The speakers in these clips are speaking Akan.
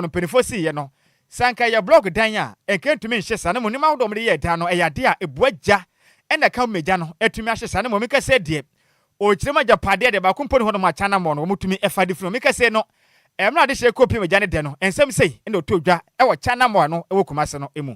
no mpanyimfoɔ siiɛ no, sɛ anka ɛyɛ blɔɔk dan a, anka ɛntumi nhye saa. Na mmom nneɛma ahodoɔ a wɔde yɛɛ dan no, ɛyɛ adeɛ a ɛbua gya na ɛka home gya no atumi ahye saa. Na mmom me nkasɛɛ deɛ, ɔkyerɛ mu agyapadeɛ deɛ, baako mpo nni hɔ nom a Kyanammɔn no wɔtumi fa de firi hɔ. Me nkasɛɛ no, mmerɛ a adehyeɛ rekɔpem gya no dɛ no, nsɛm sei na ɛtɔɔ dwa wɔ Kyanammɔn a ɛwɔ Kumase no mu.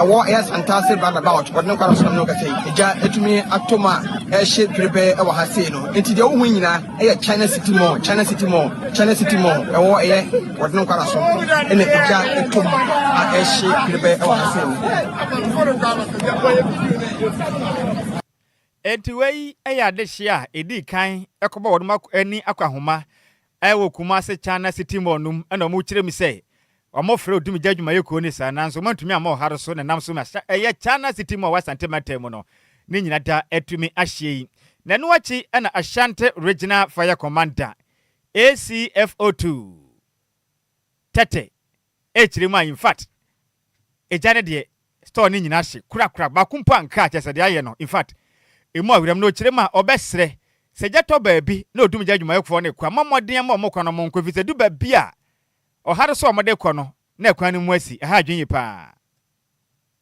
Ɛwɔ ɛyɛ Asantase roundabout wɔde no kɔ Arasram no kɛse yi. Egya atumi atɔ mu a ɛrehye dwerebɛɛ wɔ ha sei no. Enti deɛ wohu yi nyinaa ɛyɛ China City Mall, China City Mall, China City Mall. Ɛwɔ ɛyɛ wɔde no kɔ Arasram ɛna egya atɔ mu a ɛrehye dwerebɛɛ ɛwɔ ha sei no. Enti wei ɛyɛ adehyeɛ a ɛdii kan ɛkɔbɔ wɔnom ani akɔ ahoma Ɛwɔ Kumase, China City Mall no mu na wɔkyerɛɛ mu sɛ wɔfrɛ Odumgya adwumayɛkuo no saa, nanso wɔantumi amma ɔhare so na ɛnam so ma ɛyɛ China City Mall wɔ Asante mantam mu no ne nyina da atumi ahyeɛ yi. Na ɛno akyi na Ashanti Regional Fire Commander, ACFO, Too. Tete Ɛkyerɛ mu a in fact Agya no deɛ store no nyinaa hye korakora baako mpo anka kyerɛ sɛ deɛ ayɛ no in fact ɛmu aweram na ɔkyerɛ mu a ɔbɛsrɛ sɛ gya tɔ baabi na ɔdum gya adwumayɛfoɔ no kwan mɔ mmɔden mma wɔn kwan na wɔn nkɔ ɛfiri sɛ ɛdu baabi a ɔhare so a wɔde kɔ no na kwan no mu asi ɛha adwene yie paa.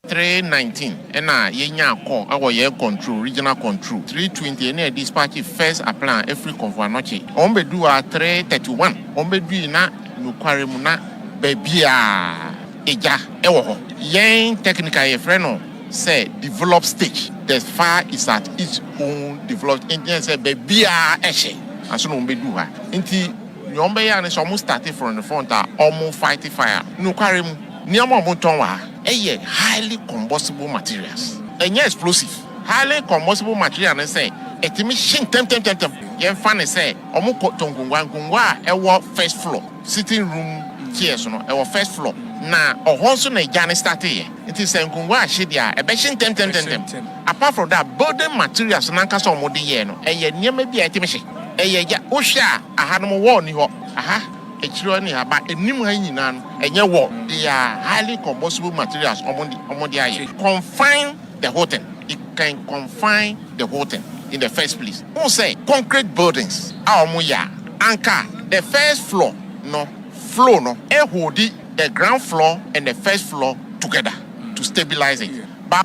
Three nineteen ɛna yɛnyaa call ɛwɔ yɛn control regional control three twenty ɛna yɛ dispatch first appeal a ɛfiri Komfo Anokye wɔn bɛduu a three thirty one wɔn bɛdui na nokware mu na baabiaa ɛgya ɛwɔ hɔ yɛn technical yɛfrɛ no sɛ develop stage the fire is at its own develop nti na sɛ baabiaa ɛhye anso na wɔn bɛduu ha nti nea wɔn bɛyɛ a ne sɛ wɔn starte from the front a wɔn fight fire nokware mu. Nneɛma a wɔtɔn wɔ ha yɛ highly combustible materials. Ɛnyɛ explosive. Highly combustible material ne sɛ ɛtumi hye ntɛmntɛmntɛm. Yɛmfa no sɛ wɔtɔn nkongua, nkongua a ɛwɔ first floor, sitting room chairs no, ɛwɔ first floor, na ɛhɔ nso na egya no starteeɛ. Nti sɛ nkongua ahye deɛ a, ɛbɛhye ntɛmntɛmntɛm. Apart from that, building materials no ankasa a wɔde yɛɛ no, ɛyɛ nneɛma bi a ɛtumi hye. Ɛyɛ egya. Wohwɛ a, ɛhanom wall nni hɔ. Aha. akyiri hɔ ne aba anim ha yi nyinaa no ɛnyɛ wall, they are highly combustible materials a wɔn de ayɛ. Confine the whole thing, it can confine the whole thing in the first place. Wohu sɛ concrete buildings a wɔn yɛ a, anka the first floor no flow no ɛholdi the ground floor and the first floor together to stabilize it.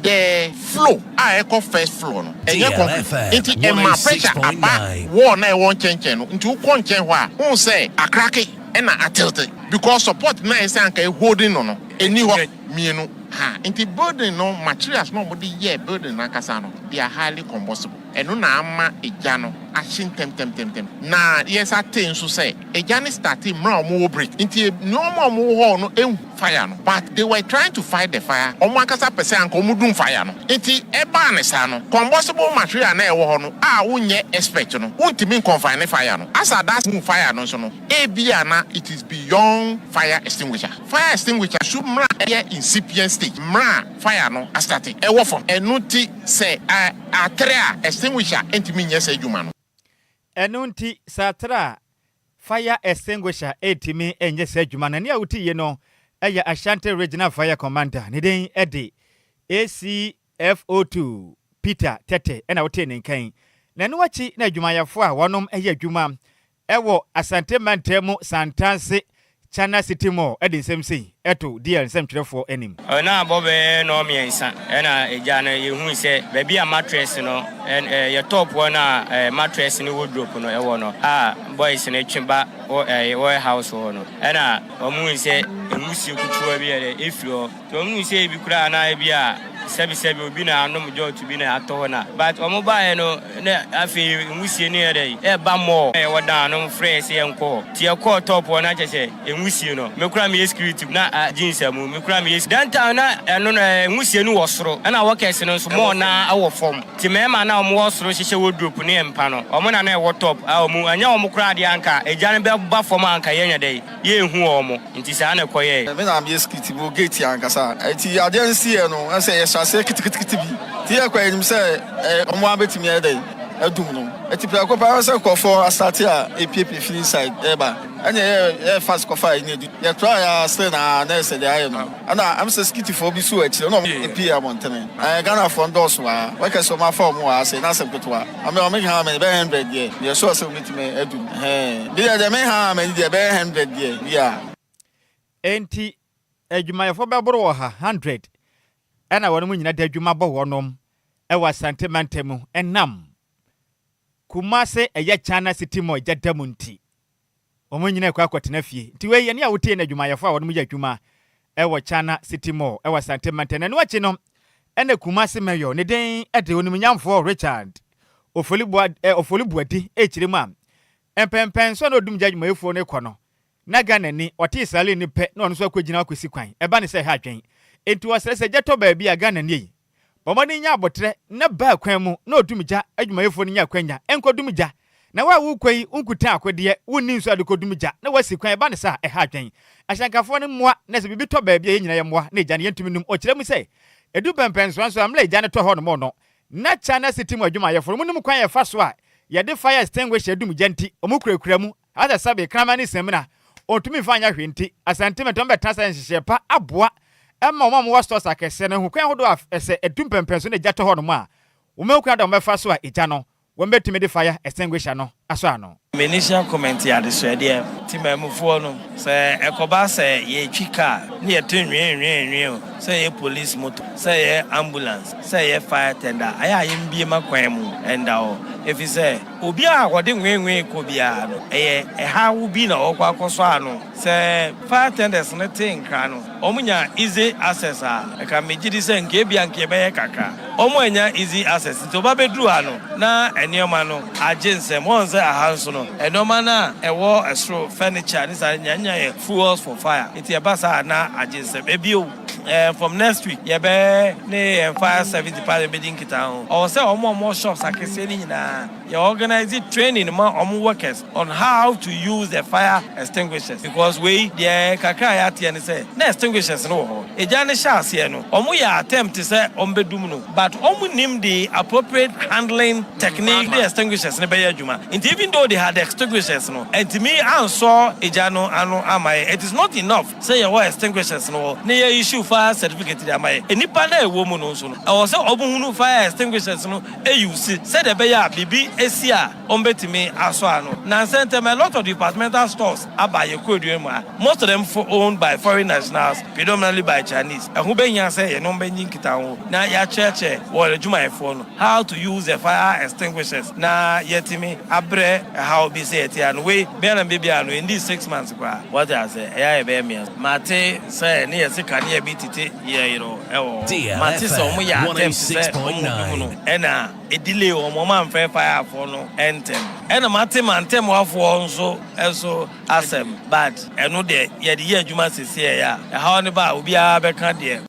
The flow a ɛkɔ first floor no ɛnyɛ concrete nti ɛma pressure aba wall no a ɛwɔ nkyɛnkyɛn no nti wokɔ nkyɛn hɔ a wohu sɛ akrake na atiltte because support no a ɛsɛ sɛ anka ɛ holding no no ɛnni hɔ. Mmienu, ha nti building no materials no a wɔde yɛɛ building no ankasa no they are highly combustible. Ɛno na ama egya no ahye ntɛmtɛmtɛmtɛm. Na yɛ sa tee nso sɛ egya no startee mmerɛ a ɔmo wɔ break nti nnoɔma a ɔmo wɔ hɔ no nhu fire no but they were trying to fight the fire ɔmo ankasa pɛ sɛ anka ɔmo dum fire no nti ɛbaa ne saa no combustible material a na ɛwɔ hɔ no a wo nyɛ expect no wo ntumi nconfine fire no as at that hu fire no nso no ebia na it is beyond fire extinguisher fire extinguisher su mmerɛ a ɛyɛ incipient stage mmerɛ a fire no astate ɛwɔ fam ɛno nti sɛ a. Atere a extinguisher ntumi nyɛ saa adwuma no. Ɛno nti, sɛ atere a fire extinguisher ntumi nyɛ saa adwuma no, nea wote yi no yɛ Ashanti Regional Fire Commander, ne din de ACFO2 Peter Tetteh na wotee ne nka yi. Na ɛno akyi na adwumayɛfoɔ a wɔnom yɛ adwuma Ɛwɔ Asante Mantam mu Santase Chana City Mall de nsɛm sei to DR nsɛmtwerɛfoɔ anim. Ɛna abɔ bɛyɛ nnɔɔ mmiɛnsa ɛna egya no yɛhui sɛ baabi a mattress no ɛɛ yɛ top hɔ no a ɛɛ mattress ne wardrobe no ɛwɔ no a boys no twe ba wɔ ɛɛ ware house hɔ no ɛna wɔn hui sɛ nwusie kutuwa bi ɛdɛ efiri hɔ. Nti wɔn hu sɛ ebi koraa na ebi a sɛbi sɛbi obi na anom jɔɔto bi na atɔ hɔ na but wɔn baeɛ no na afei nwusie no yɛ dɛn ɛɛba more na yɛwɔ dan no frɛ yɛ sɛ yɛn kɔ hɔ nti yɛkɔɔ top hɔ na kyɛ sɛ nwusie no me koraa meyɛ security na a jeans amu me koraa meyɛ Then time na ɛno no ɛɛ nwusie no wɔ soro ɛna workers no nso more na ɛwɔ fam nti mmarima na wɔn wɔ soro hyehyɛ wardrobe ne mpa no wɔn na na ɛwɔ top a wɔn ɛnyɛ wɔn koraa deɛ anka egya no bɛba fam a anka yɛnyɛ dɛn. yɛnhu wɔn. Nti saa na ɛkɔyɛe. Me na meyɛ security wɔ gate ankasa. Nti adeɛ no siiɛ no, na sɛ yɛhyɛ aseɛ kitikitikiti bi. Nti yɛkɔ a yɛnim sɛ wɔn ara bɛtumi ayɛ dɛn? Adum no. Nti prɛko pɛ ara sɛ nkurɔfoɔ asate a ɛrepiapia firi inside reba. Ɛnneɛ yɛyɛɛ fast kɔfaa yɛn na ɛdu. Yɛtraeɛ ara still na nurse deɛ ayɛ no. Ɛna ɛm sɛ Skitifoɔ bi suu akyire na wɔn pii abɔntene. Ɛɛ Ghanafoɔ no dɔɔso wɔ ha. Wɔka sɛ wɔn afa wɔn wɔ ha sei na asɛm ketewa. Ame wɔn ha ama no ɛbɛyɛ hundred deɛ, meyɛ sure sɛ wɔbɛtumi aduru. Ɛhɛɛ. Me deɛ deɛ me ha ama no deɛ ɛbɛyɛ hundred deɛ, bia. Enti adwumayɛfoɔ bɛboro wɔ ha hundred ɛna wɔnom nyina de adwuma bɔ wɔnom wɔ Asante mantam mu ɛnam Kumase ɛyɛ China City Mall gya da mu nti. Wɔn nyinaa kɔ akɔtena fie. Nti wei yɛ nea wotie no adwumayɛfo a wɔnom yɛ adwuma wɔ China City Mall wɔ Asante Mantam. Ɛno akyi no na Kumasi Mayor ne din de Onimnyamfoɔ Richard Ofoliboa Ofolibuadi rekyerɛ mu a mpɛnpɛn so na odum gya adwumayɛfuo no rekɔ no na Ghanani ɔte Israeli no pɛ na ɔno nso akɔgyina akɔsi kwan. Ɛba no sɛ ɛha adwene. Nti ɔsrɛ sɛ gya tɔ baabi a Ghanani yi Bɔ mmɔden nya aboterɛ na baa kwan mu na ɔdum gya adwumayɛfoɔ no nya akwanya nkɔdum gya. Na wo a worekɔ yi wonkutaa akodeɛ, wonni nso a de kɔdum gya na woasi kwan, ɛba no saa a, ɛha adwene. Ahyɛnkafoɔ no mmoa na sɛ biribi tɔ baabi a yɛn nyinaa yɛmmoa na gya no yɛntumi nnum. Ɔkyerɛ mu sɛ, Ɛdu mpɛnpɛnsoɔ nso a, mmerɛ a gya no tɔ hɔnom no, na China City mu adwumayɛfoɔ no monim kwan a yɛfa so a yɛde fire extinguisher dum gya nti, wɔkurakura mu Asɛ sɛbe kraman ne samina ontumi mfa nyɛ hwee nti, Asante Metɔn bɛtena sɛ nhyehyɛɛ pa aboa ma wɔn a wɔwɔ stores akɛseɛ no ho kwan ahodoɔ a ɛsɛ ɛtu mpɛmpɛn so na egya tɔ hɔ nom a wɔmɛhu kwan da wɔbɛfa so a egya no wɔbɛtumi de fire extinguisher no asɔ ano. Me initial comment yɛ adesoɛ deɛ. Temanmufoɔ no, sɛ ɛkɔba sɛ yɛretwi car ne yɛte nwee-nwee-nwee o, sɛ ɛyɛ police motor, sɛ ɛyɛ ambulance, sɛ ɛyɛ fire tender, ayɛ a yɛmbue ma kwan mu nda hɔ, ɛfiri sɛ, Obi a ɔde nweenwee kɔ biara no, ɛyɛ ɛhaw bi na ɔkɔ akɔsɔ ano. Sɛ fire attendants no te nkra no, wɔnya easy access a, ɛka megye di sɛ anka ebia anka ɛbɛyɛ kakra. Wɔannya easy access nti, wɔabɛduru ha no, na nneɛma no agye nsam. Wɔahu sɛ aha nso no, nneɛma no a ɛwɔ soro, furniture ne saa, yɛannya yɛ fuels for fire, nti ɛba saa a, na agye nsam. Bio. Eh, from next week yɛbɛ ne yɛn fire service department bɛdi nkitaho. Ɔwɔ sɛ wɔn a wɔwɔ shops akɛseɛ no nyinaa, yɛ organise training ma wɔn workers on how to use the fire extinguishers because wei deɛ kakra a yɛateɛ ne sɛ na extinguishers no wɔ hɔ. Egya no hyɛ aseɛ no, wɔyɛ attempt sɛ wɔbɛdum no but wɔnnim the appropriate handling technique de extinguishers no bɛyɛ adwuma nti even though they had extinguishers no, antumi ansɔ egya no ano amma yɛn. It is not enough. Sɛ yɛwɔ extinguishers no hɔ na yɛ issue fire certificate de ama yɛ nnipa no a ɛwɔ mu no nso no, ɛwɔ sɛ wɔn hunu fire extinguishers no use sɛdeɛ ɛbɛyɛ a biribi si a wɔn bɛtumi asɔ ano. Nnansa ntɛm a lot of departmental stores aba yɛn kuroduan mu a most of them owned by foreign nationals predominantly by Chinese. Ɛho bɛhia sɛ yɛne wɔn bɛnye nkitaho na yɛakyerɛkyerɛ wɔn adwumayɛfoɔ no how to use the fire extinguishers na yɛatumi abrɛ ɛhaw bi sɛ yɛte ano. Wei biara mma biara no ɛnni six months. Kora. Wate ase? Ɛyɛ a yɛbɛyɛ mmea so. Mate sɛ ne yɛ se kanea bi tete yɛ yero ɛwɔ hɔ. Mate sɛ wɔn yɛ attempt sɛ wɔn mu bi mu no ɛna ɛdelay wɔn, wɔn amfɛ fire foɔ no ɛntɛm. Ɛna mate mantɛmwa foɔ nso ɛso asɛm but ɛno deɛ yɛde yɛ adwuma sese ɛyɛ a ɛhaw no ba a obiara bɛka deɛ.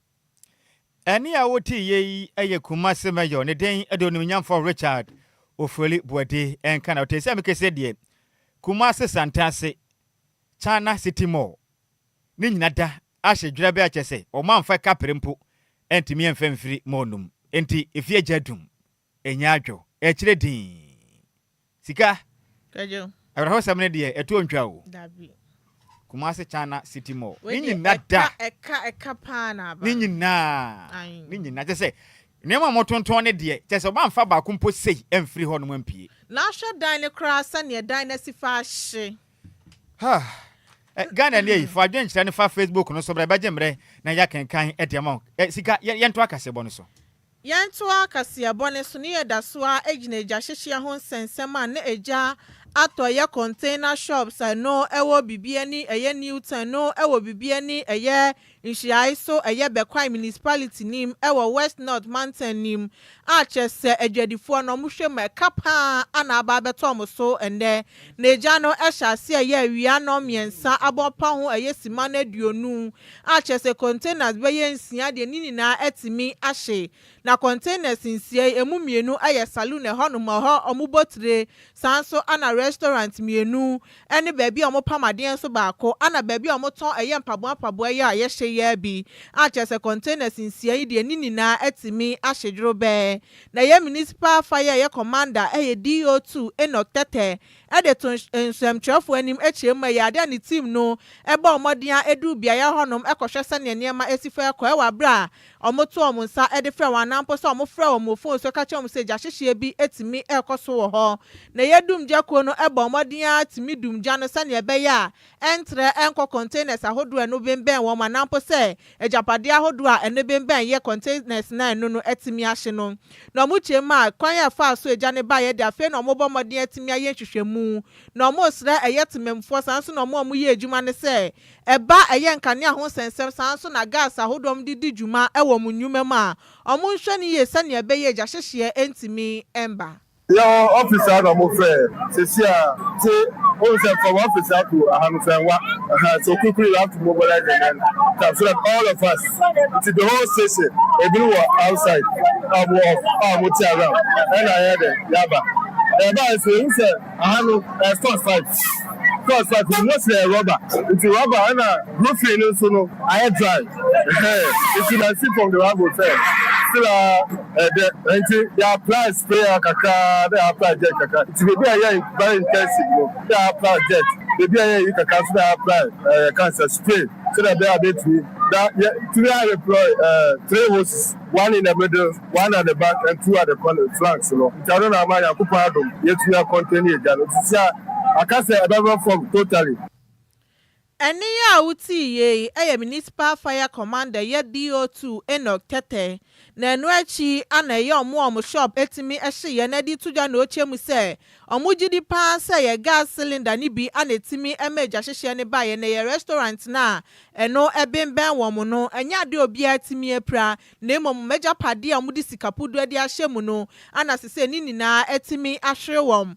Ɛnne a wotiiɛ yi yɛ Kumase Mayor ne den de Onimnyamfo Richard Ofori Boadi nka na ɔte sɛ me kese deɛ Kumase Santase China City Mall ne nyina da ahye dwerɛbɛ a kyɛ sɛ ɔmanfa kapre mpo ntumi mfa mfiri mall no mu nti efie gya dum Ɛnyɛ adwo. Ɛkyerɛ din. Sika. Kwadwo. Awerɛhosɛm no deɛ, ɛtoɔ ntwa o. Dabi. Kumasi China City Mall. Wei deɛ, ɛka, ɛka, ɛka paa na aba. Ne nyinaa. Ayi. Ne nyinaa. Kyɛ sɛ, nneɛma a wɔtontɔn no deɛ, kyɛ sɛ wɔamfa baako mpo sei amfiri hɔnom ampue. Na hwɛ dan no koraa sɛdeɛ dan no asi fa ahye. Ha! Ɛ, Ghanani ei, fa adwenkyerɛ no fa Facebook no so bra, ɛbɛgye mmerɛ na yɛakenkan de ama wo. Ɛ, Sika, yɛ, yɛntoa kaseɛbɔ no so. Yɛntoa kaseɛbɔ no so ne yɛda so ara gyina egyahyehyeɛ ho nsɛnsɛm a na egya atɔ ɛyɛ container shops a ɛno ɛwɔ bibi ani ɛyɛ Newton ɛno ɛwɔ bibi ani ɛyɛ Nhyiae so ɛyɛ Bekwai Municipality no mu ɛwɔ West North mantan no mu a kyerɛ sɛ adwadifoɔ no wɔhwɛ mu a ɛka paa ara na aba abɛtɔ wɔn so ɛnnɛ N'agya no hyɛ aseɛ yɛ awia nnɔn mmiɛnsa abɔpa ho ɛyɛ simma no aduonu a kyerɛ sɛ containers bɛyɛ nsia deɛ ne nyinaa atumi ahye. Na containers nsia yi ɛmu mmienu yɛ saloon ɛhɔ nom a ɛhɔ wɔn bɔ tire saa nso na restaurant mmienu ɛne baabi a wɔn pam adeɛ nso baako ɛna baabi a wɔn tɔn ɛyɛ mpaboa mpaboa yi a yɛhyɛ yi ara bi a kyerɛ sɛ containers nsia yi deɛ ne nyinaa atumi ahye dworo bɛɛ Na ɛyɛ Municipal fa yi a ɛyɛ Commander ɛyɛ DO2 Enoch Tɛtɛ de to nsɛmtwerɛfoɔ anim kyerɛ mu ɛyɛ ade a ne team no bɔɔ mmɔden ara ɛduu beaeɛ hɔnom kɔhwɛ sɛdeɛ nneɛma asi fa ɛkɔ ɛwɔ aberɛ a wɔn to wɔn nsa de frɛ wɔn anaa mpo sɛ wɔn frɛ wɔn wɔ phone so ka kyerɛ wɔn sɛ gyahyehyɛ bi tumi ɛrekɔ so wɔ hɔ na ɛyɛ dumgya kuo no bɔɔ mmɔden ara tumi dum gya no sɛdeɛ ɛbɛyɛ a ɛntrɛ nkɔ containers ahodoɔ a ɛno bembɛn wɔn anaa mpo sɛ agyapadeɛ ahodoɔ a ɛno bembɛn yɛ containers no a ɛno no atumi ahye no. Na wɔkyerɛ mu a, kwan a ɛfaa so a egya no baeɛ de afei na wɔrebɔ mmɔden atumi ayɛ nhwehwɛmu. Na wɔresrɛ ɛyɛ temammufoɔ saa nso na wɔn a wɔyɛ adwuma no sɛ ɛba a ɛyɛ nkanea ho nsɛnsɛm saa nso na gas ahodoɔ a wɔde di dwuma wɔ wɔn nnwuma mu a wɔnhwɛ no yie sɛdeɛ ɛbɛyɛ a egyahyehyeɛ ntumi mma Yɛwɔ office a na ɔmo frɛ sɛsi a nti wohu sɛ from office a to aha no fɛn wa ahaa so quickly you have to mobilize and then come so that all of us nti the whole station ebinom wɔ outside a ɔmo wɔ off a ɔmo te around ɛna yɛ dɛ yaba ɛba ɛsɛ ehu sɛ aha no ɛyɛ stores five stores five nti most yɛ rubber nti rubber ɛna roofing no nso no ayɛ dry ɛhɛn nti na si from the rubber sɛ still a. Ɛdɛ nti yɛ apply sprayer kakra na yɛ apply jet kakra nti baabi a yɛyɛ very intensive no na yɛ apply jet baabi a yɛyɛ yi kakra nso na yɛ apply ɛɛ yɛ ka sɛ spray sɛdeɛ ɛbɛyɛ a bɛtumi na yɛ tumi a deploy ɛɛ three hoses one in the middle one at the back and two at the corner flanks no nti ano na ama Nyankopɔn adom yɛtumi a contain yɛ gya no nti sɛ aka sɛ ɛbɛba fam totally. Ɛnne yi a wotiiɛ yi yɛ Municipal Fire Commander yɛ BO2 Enoch Tɛtɛ na ɛno akyi ana ɛyɛ wɔn a wɔn shop tumi hyeeɛ na ɛde to dwa na ɔkyɛ mu sɛ wɔn gye di pa ara sɛ yɛ gas cylinder no bi ana ɛtumi ma egya hyehyeɛ no baeɛ na ɛyɛ restaurant no a ɛno bembɛn wɔn no ɛnyɛ adeɛ a obiara tumi apira na mmom wɔn agyapadeɛ a wɔde sika puduo de ahyɛ mu no ana sesei ne nyinaa atumi ahwere wɔn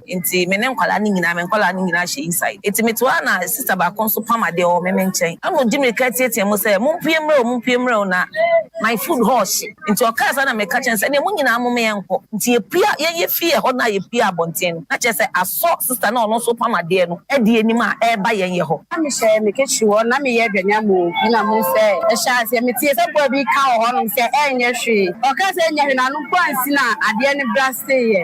Nti me ne nkwadaa no nyinaa, me nkwadaa no nyinaa hyɛ inside. Nti metoa a na sista baako nso pam adeɛ wɔ me me nkyɛn. Ɛna ɔdi mmirika teatea mu sɛ, Mompue mmrɛ o, mompue mmrɛ o, na my food hɔ rehye. Nti ɔkaa saa na meka kyerɛɛ no sɛ, ɛnneɛ mo nyinaa momma yɛnkɔ. Nti yɛpue, yɛn yɛfiri ɛhɔ no a yɛpue abɔnten no, na kyerɛ sɛ asɔ sista no a ɔno nso repam adeɛ no adi anim a ɛreba yɛn yɛ hɔ. Na mehyɛ me kɛkyi hɔ, na meyɛ adwanyam o, ɛna mo sɛ. Ɛhyɛɛ aseɛ, metee sɛ boa bi reka wɔ hɔnom sɛ, Ɛnyɛ hwee. Ɔkaa sɛ, Ɛnyɛ hwee, na ano mpo ansi na adeɛ no braseeɛ.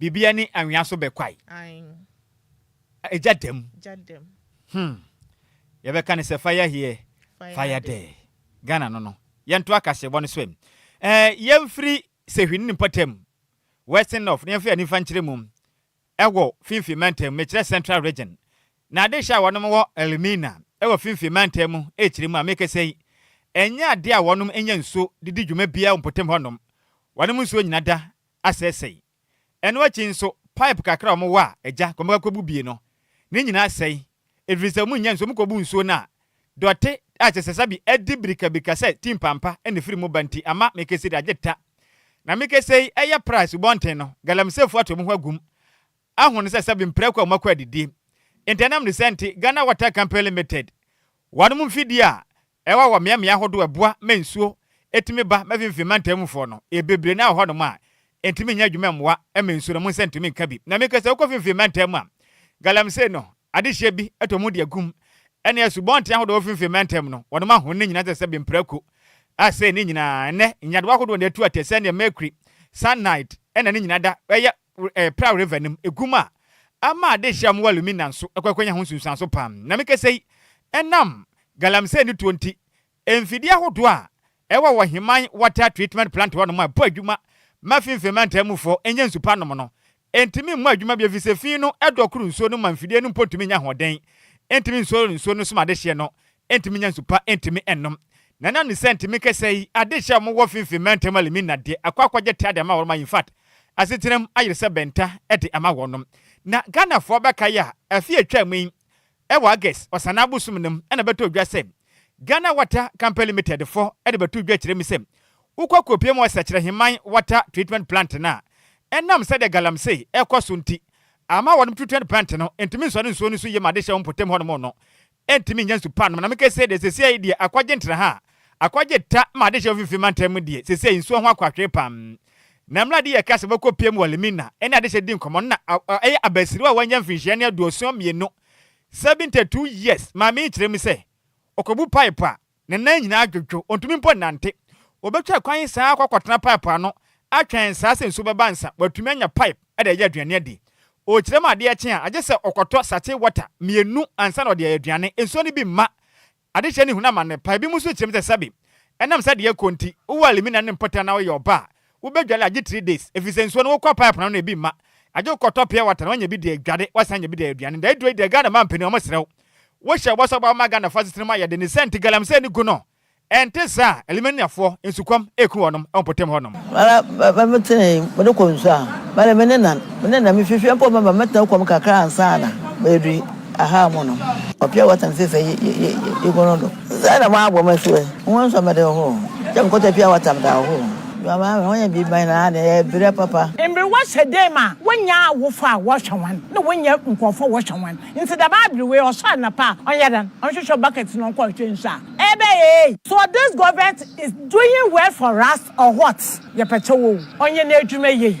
Bibia ne anwea so bɛkwae. Egya dɛm. Hmm. Yɛbɛka no sɛ fire here, fire there. Ghana no no. Yɛnto akaseɛbɔ no so ɛ. Ɛɛ yɛmfiri Sehwi ne mpɔtam, Western North, na yɛmfa yɛn ani mfa nkyerɛ mu wɔ Finfin Mantam, mekyerɛ Central Region. Na adehyɛ a wɔnom wɔ Elmina wɔ Finfin Mantam mu rekyerɛ mu a mekasa yi, ɛnyɛ adeɛ a wɔnom nya nsuo de di dwuma biara wɔ mpɔtam hɔnom. Wɔnom nsuo nyina da asɛesɛe. Ɛno akyi nso, pipe kakra a wɔwɔ a agya kɔm bɛkɔ akɔbu bie no, ne nyinaa sɛe, ɛfiri sɛ wɔnnya nsuo. Wɔkɔbu nsuo no a, dɔte a kyerɛ sɛ sɛbe adi birikabirika sɛ ti mpampa na ɛfiri mu ba nti, ama Mikesedi agye ta. Na Mikesei yɛ pra asubɔnten no, Galamisefoɔ ato wɔn ho agum aho no sɛ sɛbe mprako a wɔakɔ adidie. Ntɛnam ne sɛ nti, Ghana Water Company Limited, wɔnom mfidie a Ɛwɔ wɔ mmeammea ahodoɔ a ɛboa ma nsuo tumi ba ma mfimfini mantam mufoɔ no. Bebree no ara wɔ hɔnom a ɛntumi nyɛ adwuma mmoa ma nsuo no, mo nsa ntumi nka bi. Na meka sɛ wokɔ mfimfini mantam mu a, galamsey no, adehyeɛ bi tɔ mu de agum. Ɛne asubɔnten ahodoɔ a ɛwɔ mfimfini mantam no, wɔnom ahoni no nyinaa te sɛ bemprako. Asei ne nyinaa, ɛnnɛ, nyadewa ahodoɔ na ɛtu atɛ sɛdeɛ mercury, cyanide na ne nyinaa da, ɛyɛ ɛɛ Praw River no mu egu mu a, ama adehye a wɔwɔ alumina nso kɔ akɔnya ho nsunsuanso paa. Nea mekasa yi, ɛnam galamsey no tuo nti, mfidie ahodoɔ a ɛwɔ Wɔheman Water Treatment Plant hɔnom a ɛbɔ adwuma ma fi mfee mantam mufoɔ nya nsu pa nom no ntumi mmɔ adwuma bio efisɛ fi no dɔ koro nsuo no ma mfidie no mpo ntumi nnya ahoɔden ntumi nsɔre nsuo no so ma adehyeɛ no Ntumi nya nsu pa ntumi nnom. Na ɛnam ne sɛ ntumi kɛsɛ yi ade rehyɛ wɔn wɔ finfin mantam a limi nna deɛ akɔ akɔgye tea de ama wɔn ma infact asetena mu ayere sɛ bɛnta de ama wɔn nom. Na Ghanafoɔ bɛkae a afe a ɛtwaa mu yi ɛwɔ August ɔsanaa bosom no mu na ɛbɛtɔɔ dwa sɛ Ghana Water Company Limited fɔ de bɛtoo dwa kyerɛ mu sɛ wokɔ kɔpie mu wɔ Sɛkyerɛheman Water Treatment Plant no a ɛnam sɛdeɛ galamsey rekɔ so nti ama wɔnom treatment plant no ntumi nsɔre nsuo no so yie ma ade hyɛ wɔn mpɔtam hɔnom no ɛntumi nnya nsu pa nnom, na mekɛ se deɛ sesei deɛ akɔgye ntra ha, akɔgye ta ma adehyeɛ mfimfini mantam mu deɛ sesei nsuo ho akwatwee pam. Na mmerɛ a de yɛ ka se wɔkɔ piem wɔ Limina ne adehyeɛ di nkɔmɔ no na ɛyɛ abasiriwa a wanya mfinhyia ne aduoson mmienu, 72 years, maame yi kyerɛ mu sɛ ɔkɔbu pipe a Ne nan nyinaa dwodwo, ontumi mpo nnante. Obetwa kwan yi saa akɔ akɔtena pipe ano atwɛn saa sɛ nsu bɛba ansa watumi anya pipe de ayɛ aduane adi. Ɔrekyerɛ mu adeɛ kye a, agye sɛ ɔkɔtɔ sachet water mmienu ansa na ɔde ayɛ aduane. Nsuo no bi mma adehyeɛ no nhunu amane pa. Ebinom nso kyerɛ mu sɛ sɛbe ɛnam sɛ deɛ ɛrekɔ nti, wowɔ alimina ne mpɔtam na woyɛ ɔbaa a, Wobɛdware agye three days efisɛ nsuo no wokɔ pipe no ano na ebi mma. Agye wokɔtɔ pure water na wanya bi de adware, wasan anya bi de ayɛ aduane. Nea ɛduro yi deɛ Ghana mmaa mpanin wɔsrɛ wo, wohyɛ bɔ sɛ wobɛba ma Ghanafoɔ asetena mu ayɛ den ne sɛ nti galamsey ne gu no ɛnte saa. Alimaniafoɔ, nsukɔm ɛreku wɔnom wɔ mpɔtam hɔnom. Mara bɛ me tenee me de kɔ nsuo a, mara me ne na me ne na me fifie mpo mɛma mɛtena kɔ mu kakra ansa na mɛdui. Ahaa mu no, ɔbea wɔ tam fɛfɛ yi yi yi yi gu no do. Dza na wɔabɔ me so ɛ. Hom nsɔ me do hoo. Gya me kɔtɔ pia wɔ tam da hoo. Dua maa me, wɔnyɛ biribi ma hɛn ara dɛ yɛrebrɛ papa. Mberewa hyɛ dee ma wonnya awofo a wɔhwɛ hɔn na wonnya nkorɔfo a wɔhwɛ hɔn. Ntsi dɛm aber wei ɔsɔ anapa a, ɔnyɛ dɛn? Ɔnhwehwɛ bucket na ɔnkɔ hwehwɛ nsu a. Ebɛyɛ ei! So this government is doing well for us or what? Yɛpɛ kyɛw oo. Ɔnyɛ n'edwuma yie.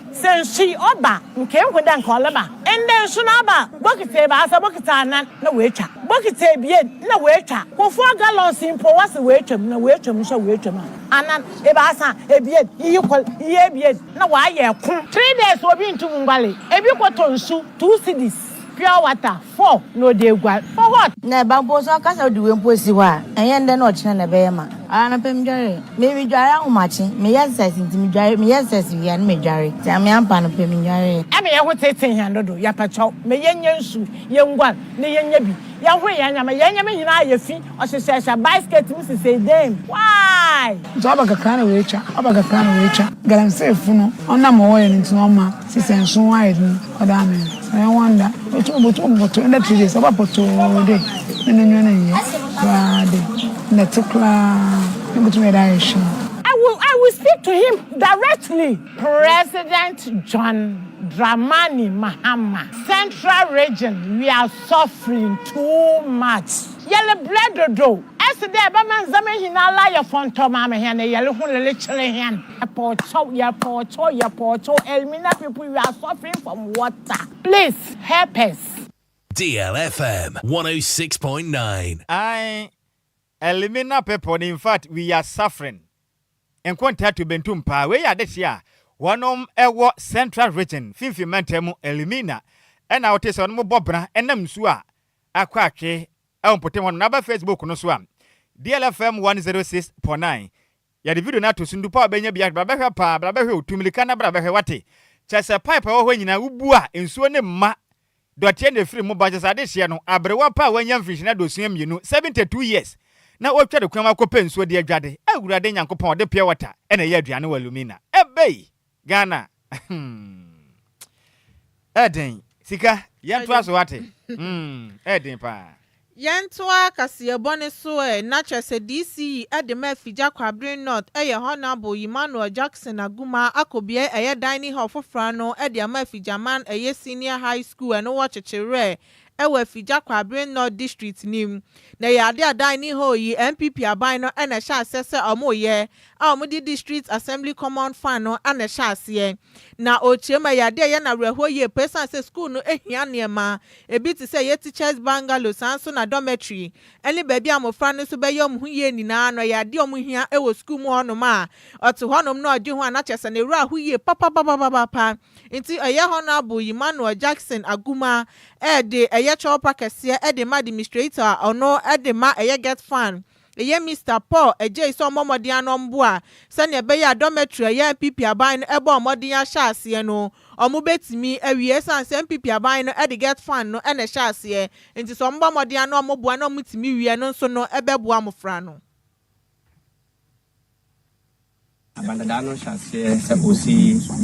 Sɛ nsu yi ɔba a, nkenhu dɛ nka ɔreba. Ndɛ nsu no aba a, bokitsi ebiasa, bokitsi anan na woetwa. Bokitsi ebien na woetwa. Kufua gallons yi mpo wɔse woetwa mu na woetwa mu so woetwa mu a, anan, ebiasa, ebien, iyi kor, iyi ebien na wɔayɛ kor. Three days obi nntum nnguare. Ebi kɔtɔ nsu, two cedis, pure water. Fɔ na ɔde aguare. For what? Na ɛba mpo nso ɔka sɛ wode wei mpo asi hɔ a, ɛnyɛ nnɛ na ɔkyena na ɛbɛyɛ ma. Anɔpa medware, meredware ahomakye, meyɛ exercise nti medware, meyɛ exercise wie a na medware, nti amee ampa anɔpa medwaree. Ɛna yɛn ho teetee hɛn do do, yɛpɛkyɛw, ma yɛnyɛ nsu, yɛnguar, na yɛnyɛ bi, yɛnhore hɛn ndzɛmba, hɛn ndzɛmba nyina a yefi. Ɔhyehyɛhyɛ bae skirt mu sesei dɛn mu? Why? Nso aba kakra na watwa, aba kakra na watwa. Galamseefo no, ɔnam ma wɔyɛ no nti na ɔma sesɛ nso ho ayɛ den ɔda amen. Ɛyɛ wonder. Obotum obotum ɔbɔtɔ ɛnɛ three days ɔba pɔtoo de na n'enyiwa no nnyɛ koraa de nnɛte koraa yebotum yɛ dɛ ayɛ hwee. I will I will speak to him directly. President John Dramani Mahama, Central Region we are suffering too much. Yɛrebrɛ dodo. Ese dɛ ebɛma ndzɛmba nyinara ayɛ fɔntɔɔ ma ama hɛn, na yɛroho rerekyere hɛn. Epɔɔtɔw, yɛpɔɔtɔw, yɛpɔɔtɔw, Elmina people you are suffering from water, please help us. Deal FM 106.9. Ae Elmina people no infact we are suffering, nkontaa to bentum paa, wei yɛ adehye a wɔnom ɛwɔ central region, finfin mantam mu, Elmina ɛna wote sɛ wɔnom bɔ bena ɛnam nsuo a akɔ atwe wɔ mpɔtam hɔnom na aba Facebook no so a, DLF FM 106.9. Yɛde video no ato so, Ndupa a wobenya biara, bra bɛhwɛ paa, bra bɛhwɛ o, tu mmirika na bra bɛhwɛ, woate? Kyerɛ sɛ pipe a ɛwɔ hɔ nyinaa, wobu a, nsuo no mma, dɔteɛ na ɛfiri mu ba, kyerɛ sɛ adehyeɛ no, aberewa pa a wanya mfinhyina aduosia mmienu, 72 years, na ɔretwa ne kwan mu akɔpɛ nsuo de adwade, Awurade Nyankopɔn, ɔde pure water na ɛyɛ aduane wɔ Lumina. Ebei! Ghana ɛyɛ den sika yɛntoa so wate ɛyɛ den paa. Yɛntoa kaseɛbɔ no so ɛ, na kyerɛ sɛ DC yi de ma Afigya Kwabre North yɛ Honourable Ymanuel Jackson Aguma Akobie ɛyɛ Dining Hall foforɔ no de ama Afigyaman ɛyɛ Senior High School ɛno wɔ Kyekyewerɛ wɔ Afigya Kwabere North District no mu, na ɛyɛ ade a Dan Ni Hor yi NPP aban no na ɛhyɛ aseɛ sɛ wɔreyɛ a wɔde District Assembly Common Fund no na ɛhyɛ aseɛ na ɔrekyerɛ mu. Ɛyɛ ade a ɛyɛ no awerɛhoɔ yie pa ɛsiane sɛ sukuu no hia nneɛma bi te sɛ ɛyɛ teachers bungalow saa nso na dormitory ne baabi a mmɔfra no nso bɛyɛ wɔn ho yie nyinaa no ɛyɛ adeɛ a wɔhia wɔ sukuu mu hɔnom a ɔte hɔnom na ɔgye ho a na kyerɛ sɛ ne werɛ aho yie papapapapapa. Nti ɛyɛ Honourable Yemanuel Jackson Agumah ɛde ɛyɛ kyɛwpa kɛseɛ de ma Demestrator a ɔno de ma ɛyɛ Getfan ɛyɛ Mister Paul Adjei sɛ ɔmmɔ mmɔden ano ɔmboa sɛdeɛ ɛbɛyɛ a Dormitory a ɛyɛ NPP aban no bɔɔ mmɔden ahyɛ aseɛ no ɔmo bɛtumi awie ɛsiane sɛ NPP aban no de Getfan no na ɛhyɛ aseɛ nti sɛ ɔmobɔ mmɔden ano ɔmo boa na ɔmo tumi wie ɛno nso no ɛbɛboa mmofra no. Abandadaa no hyɛ aseɛ sɛ ɔsi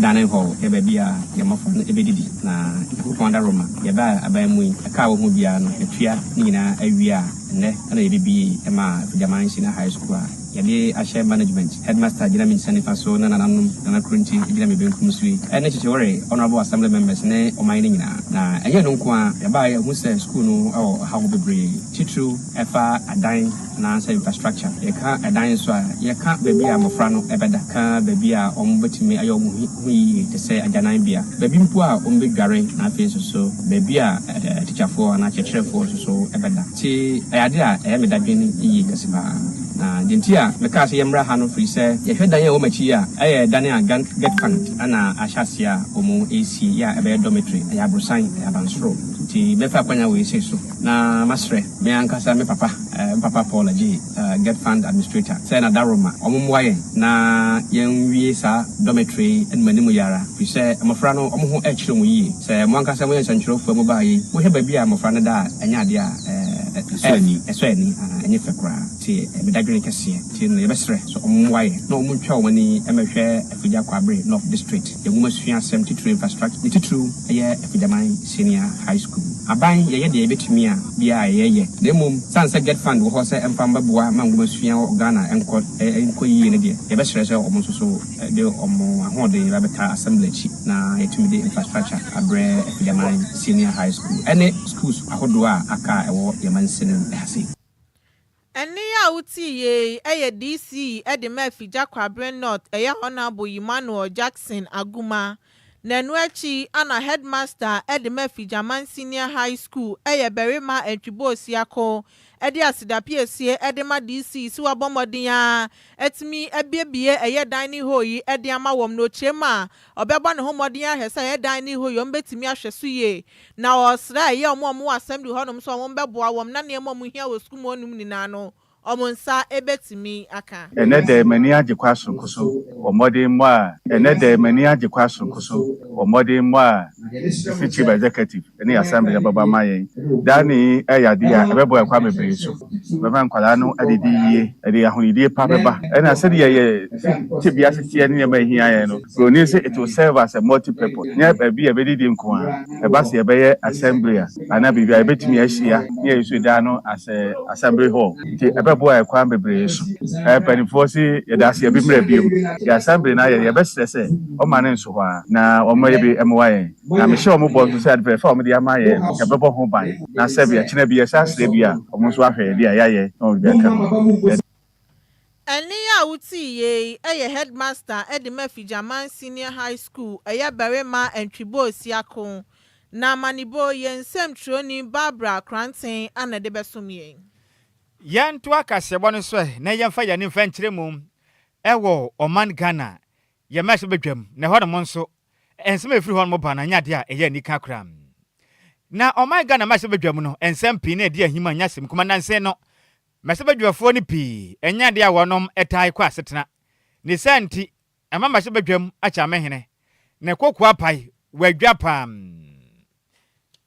dining hall yɛ baabi a yɛn mmɔfra no bɛdidi, na Nyankopɔn adaworoma deɛ ɛbaa yɛn aban mu yi, ɛka a wɔhu biara no, yɛtua ne nyinaa awie a, ɛnnɛ na yɛbɛbue ma Agyaman Nhyina High School a yɛde ahyɛ management, headmaster gyina me nsa nifa so na nananom, Nana Kronti gyina me benkum so yi, ɛne Kyekye Were, honourable assembly members ne ɔman no nyinaa. Na ɛnyɛ ɛno nko ara, yɛbaeɛ a yɛahu sɛ sukuu no wɔ ɔhaw bebree, titiriw ɛfa adan, anaasɛ infrastructure. Yɛka dan nso a, yɛka baabi a mmofra no bɛda, ka baabi a wɔbɛtumi ayɛ wɔn ho yiye te sɛ agyananbea, baabi mpo a wɔbɛdware, na afei nso so baabi a atikyafoɔ anaa akyerɛkyerɛfoɔ nso so bɛda. Nti ɛyɛ ade a ɛyɛ me dadwen yiye kɛse pa ara. Na deɛ nti a mekaa sɛ yɛmmra ha no firi sɛ yɛhwɛ dan a ɛwɔ m'akyi yi a, ɛyɛ dan a Getfund na ahyɛ aseɛ a wɔresi yɛ a ɛbɛyɛ dormitory. Ɛyɛ aborosan, ɛyɛ abansoro, nti mɛfa akwanya wei sei so. Na masrɛ me ankasa me papa, me papa Paul Agyei, Get Fund Administrator, sɛ na daworo ma wɔmmoa yɛn na yɛnwie saa dormitory yi anim anim yi ara, firi sɛ mmɔfra no wɔn ho rekyere wɔn yie. Sɛ mo ankasa moyɛ nsɛntwerɛfoɔ a mobaa yei, mohwɛ baabi a mmɔfra no da a, ɛnyɛ adeɛ a ɛsɔ ani, ɛsɔ ani, ɛnyɛ fɛ koraa, nti me dadwene kɛseɛ nti no yɛbɛsrɛ sɛ wɔmmoa yɛn na wɔntwa wɔn ani mmɛhwɛ Afigya Kwabre North District, yɛn nwomasua asɛm titire infrastructure ne titiriw yɛ Afigyaman. Senior High School. Aban, yɛyɛ deɛ yɛbɛtumi a biara a ɛyɛ yɛ, na mmom sane sɛ Get Fund wɔ hɔ sɛ ɛmfa mmɛboa ma nwoma sua wɔ Ghana nkɔ nkɔ yie no deɛ, yɛbɛsrɛ sɛ wɔn nso so de wɔn ahoɔden ba bɛtaa Assembly akyi na yɛatumi de infrastructure abrɛ Akudaman Senior High School ɛne Schools ahodoɔ a aka a ɛwɔ yɛn mansini ha sei. Ɛnne yi a wotie yi yɛ DC de ma Afigya Kwabre North ɛyɛ Honourable Yimmanuel Jackson Aguma na ɛno akyi na Headmaster de ma Afigyaman Senior High School ɛyɛ Barima Antwibor Siako de asedapiesie de ma DC se wabɔ mmɔden ara atumi abiebie ɛyɛ Dining Hall yi de ama wɔn na ɔkyerɛm a Ɔbɛbɔ ne ho mmɔden ahwɛ sɛ Edan ne Ihoyom betumi ahwɛ so yie, na ɔresrɛ ɛyɛ wɔn a wɔwɔ Assembly hɔnom sɛ wɔbɛboa wɔn na nneɛma a wɔhia wɔ sukuu mu hɔnom nyinaa no, wɔn nsa betumi aka. Ɛnnɛ da yi m'ani agye kwa soronko so wɔ mmɔdemmɔ a Ɛnnɛ da yi m'ani agye kwa soronko so wɔ mmɔdemmɔ a Missy Chief Executive, ne Assembly no bɛba ama yɛn. Dining yi yɛ ade a ɛbɛboa yɛn kwan bebree so. Ɛbɛma nkwadaa no adidi yie, ɛde ahonidie pa bɛba. Ɛna sɛdeɛ yɛn tebea si teɛ ne nneɛma a ɛhia yɛn no, buroni se it will serve as a multi-purpose. Nyɛ baabi a yɛbɛdidi nko ara. Ɛba sɛ yɛbɛyɛ Assembly a, anaa biribi a, yɛbɛtumi ahyia na yɛuse dan no as a Assembly Hall. Nti ɛbɛboa yɛn kwan bebree so. Mpanimfoɔ se yɛda ase, yɛbemmra bio. Yɛn Assembly no ayɛ no, yɛbɛsrɛ sɛ wɔmma no nso hɔ ara na wɔmmɛyɛ bi mmoa yɛn. Na mehyɛ wɔn bɔ nso sɛ ade fɛfɛ a wɔde ama yɛn no, yɛbɛbɔ ho ban, na sɛbe ɛkyena bi yɛsan srɛ bi a, wɔn nso ahwɛ yɛn de a yɛayɛ na wɔn de aka no. Ɛnne yi a wotii yei yi yɛ Headmaster de ma Afigyaman Senior High School, ɛyɛ barima Antwibɔɔ Siako, na Amanibɔ, yɛn nsɛmtwerɛni Barbara Kranten na ɛde bɛsom yɛn. Yɛntoa kaseɛbɔ no so ɛ na yɛmfa yɛn ani mfa nkyerɛ mu. Ɛwɔ ɔman Ghana, yɛn mmahyɛ badwam, na ɛhɔnom nso, Nsɛm a ɛfiri hɔnom ba no anyɛ adeɛ a ɛyɛ anika koraa. Na ɔman Ghana mmarahyɛbadwa mu no, nsɛm pii na ɛdi ahim a ɛnyɛ asɛm kumaa. Nnansa yi no, mmarahyɛbadwafoɔ no pii nyɛ adeɛ a wɔnom taa kɔ asetena. Ne saa nti, ɛma mmarahyɛbadwam akyamehene ne kokoa pae wɔ adwa pa ara.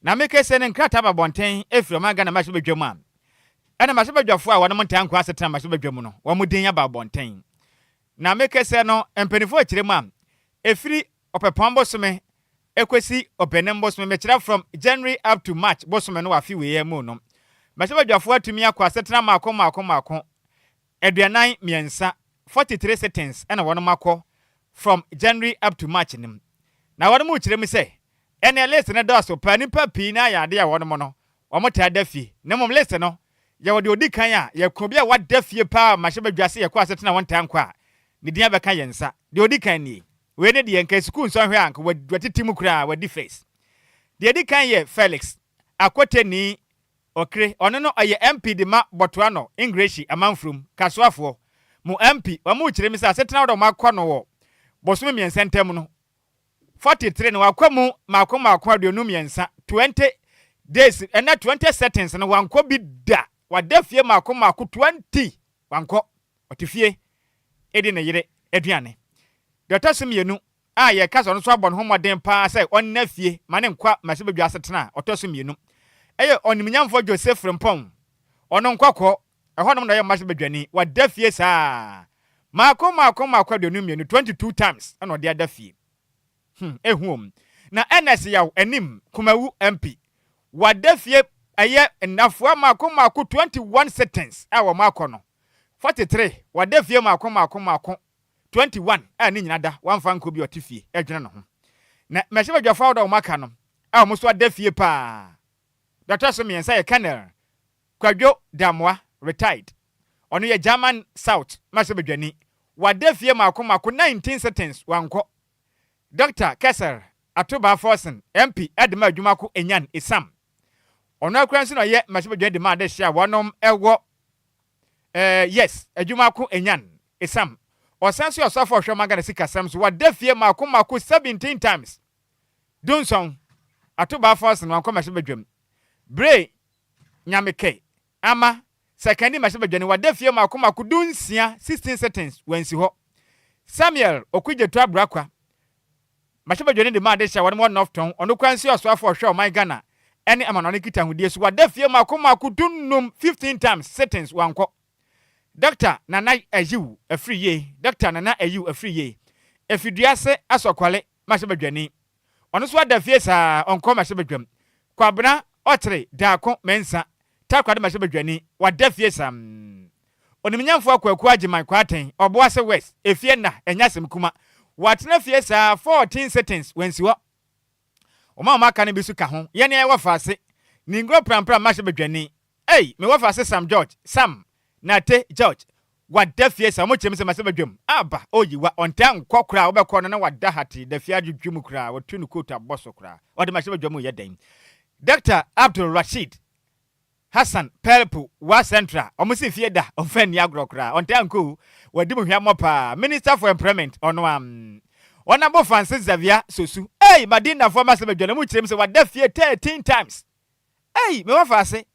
Na me kese no, nkrataa ba abɔnten firi ɔman Ghana mmarahyɛbadwa mu a, ɛna mmarahyɛbadwafoɔ a wɔnom ntaa nkɔ asetena mmarahyɛbadwa mu no, wɔn din aba abɔnten. Na me kɛsɛ no mpanyinfoɔ kyerɛ mu a, ɛfiri Ɔpɛpɔn bosome ɛkɔsi Ɔpɛnam bosome, mekyerɛ from January up to March bosome no wɔ afe wei ara mu no, mɛsɛ badwafoɔ atumi akɔ asetena mmaako mmaako mmaako, aduanan mmiɛnsa, 43 sittings ɛna wɔnom akɔ from January up to March no mu. Na wɔnom rekyerɛ mu sɛ, ɛneɛ list no dɔɔso paa, nnipa pii no ara yɛ adeɛ a wɔnom no, wɔtaa da fie, na mmom list no Yɛwɔ deɛ ɔdi kan a, yɛ kunu bi a wada fie paa a mmarahyɛbadwa se yɛkɔ asetena a wɔntaa nkɔ a, ne din abɛka yɛn nsa. Deɛ ɔdi kan nie. Wei no deɛ, anka sukuu nsɔhwɛ a, anka watete mu koraa, wadi first. Deɛ ɛdi kan yɛ Felix Akwoteni Okre, ɔno no ɔyɛ MP de ma Botoano, Ingreshi, Amanfurom, Kasoafoɔ, mu MP. Wɔkyeree me sɛ asetena ahodoɔ a wɔakɔ no wɔ bosome mmiɛnsa ntam no, 43 na wakɔ mu mmaako mmaako aduonu mmiɛnsa, 20 days, ɛnna 20 settings no wankɔ bi da, wada fie mmaako mmaako 20, wankɔ, ɔte fie di ne yere aduane. Deɛ ɔtɔ so mmienu a yɛka sɛ ɔno nso abɔ ne ho mmɔden paa sɛ ɔnna fie ma ne nkwa ma sɛ bɛdwa asetena a ɔtɔ so mmienu yɛ ɔnimnyamfoɔ José Frimpong, ɔno nkɔkɔɔ Ɛhɔnom na ɔyɛ mmase badwani. Wada fie saa. Mako, mako, mako aduonu mmienu, twenty two times, na ɔde ada fie. Hum, ehu o. Na Ernest Yaw, anim, Kumawu MP. Wada fie ɛyɛ nnafua mako, mako, twenty one sittings a wɔn akɔ no. Forty three, wada fie mako, mako, mako, twenty one a ne nyina da, wamfa ankɔ bi, ɔte fie, ɛdwene ne ho. Na mmarahyɛbadwafo ahodoɔ a wɔn aka no, a wɔn nso ada fie paa. Deɛ ɔtɔ so mmiɛnsa yɛ Colonel. Kwadwo Damoah, retired, ɔno yɛ German South mmarahyɛbadwani, wada fie mako mako 19 sittings wankɔ, Dɔkta Kessel Atubaa Forson, MP, de maa adwuma ko Enyan Esam, ɔno ara koraa nso na ɔyɛ mmarahyɛbadwani de maa adehye a wɔnom wɔ eh, yes, adwuma ko Enyan Esam. Ɔsan nso yɛ ɔsɔfo a ɔhwɛ ɔman Ghana sikasɛm so, wada fie mako mako 17 times, Dunson Atubaa Forson wankɔ mmarahyɛbadwam, bere Nyame kɛ, ama, sɛ kɛn de mahyɛ badwani wada fie mako mako du nsia, sixteen sittings, wansi hɔ. Samuel Okudzeto Abrakwa, mahyɛ badwani de ma adehye a wɔnom wɔ North Tɔn, ɔno koraa nsi ɔsoafo a ɔhwɛ ɔman Ghana ɛne amanɔne nkitahodie so wada fie mako mako du nnum, fifteen times, sittings, wankɔ. Dɔkta Nana Ayew Afriyie, Dɔkta Nana Ayew Afriyie, Efiduase Asɔkwale, Mmarahyɛbadwani. Ɔno nso ada fie saa, ɔnkɔ mmarahyɛbadwam. Kwabena, Ɔkyere, Daako, Mensa, Takoradi Mmarahyɛbadwani, wada fie saa. Onimnyamfo Akwaku Agyeman Kwaateng, Ɔboase West, Efie Nna, Ɛnyɛ-Asɛm-Kuma, watena fie saa, fourteen sittings, wansi hɔ. Wɔn a wɔaka no bi nso ka ho, Yɛne Ayɛwɔ Faase, Ningro Prampra Mmarahyɛbadwani, Ei me wɔfa se Sam George Sam Nate George Wada fie sa ɔmo kyerɛ me sɛ masɛ badwam aba o yiwa ɔntaa nkɔ koraa wobɛkɔ no na wada hate dafie adwodwo mu koraa watu ne coat abɔ so koraa ɔde mahyɛ badwam reyɛ dɛn Doctor Abdul Rasheed Hassan Pelpu Wa Central ɔmo se fie da ɔmfa nni agorɔ koraa ɔntaa nkɔ o wadi mu hwammɔ paa Minister for Employment ɔno a mm Honourable Francis Xavier Sosu Ei Madindafoɔ masɛ badwa no ɔmo kyerɛ me sɛ wada fie 13 times Ei! Me wɔfa ase!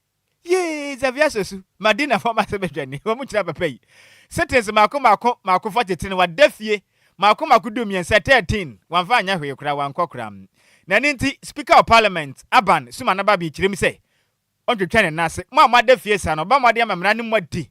Yee! Xavier Sosu, Madina fam ase badwani, wɔn kyerɛ papa yi. Sittings mako mako mako forty ten wada fie mako mako du mmiɛnsa thirteen wamfa anyɛ hwee koraa wankɔ koraa. Na ɛno nti Speaker of Parliament Aban Sumana Babie kyerem sɛ ɔntwitwa ne nan ase. Mo a moada fie saa no ɔbɛbɔ mmɔden ama mmara no mu adi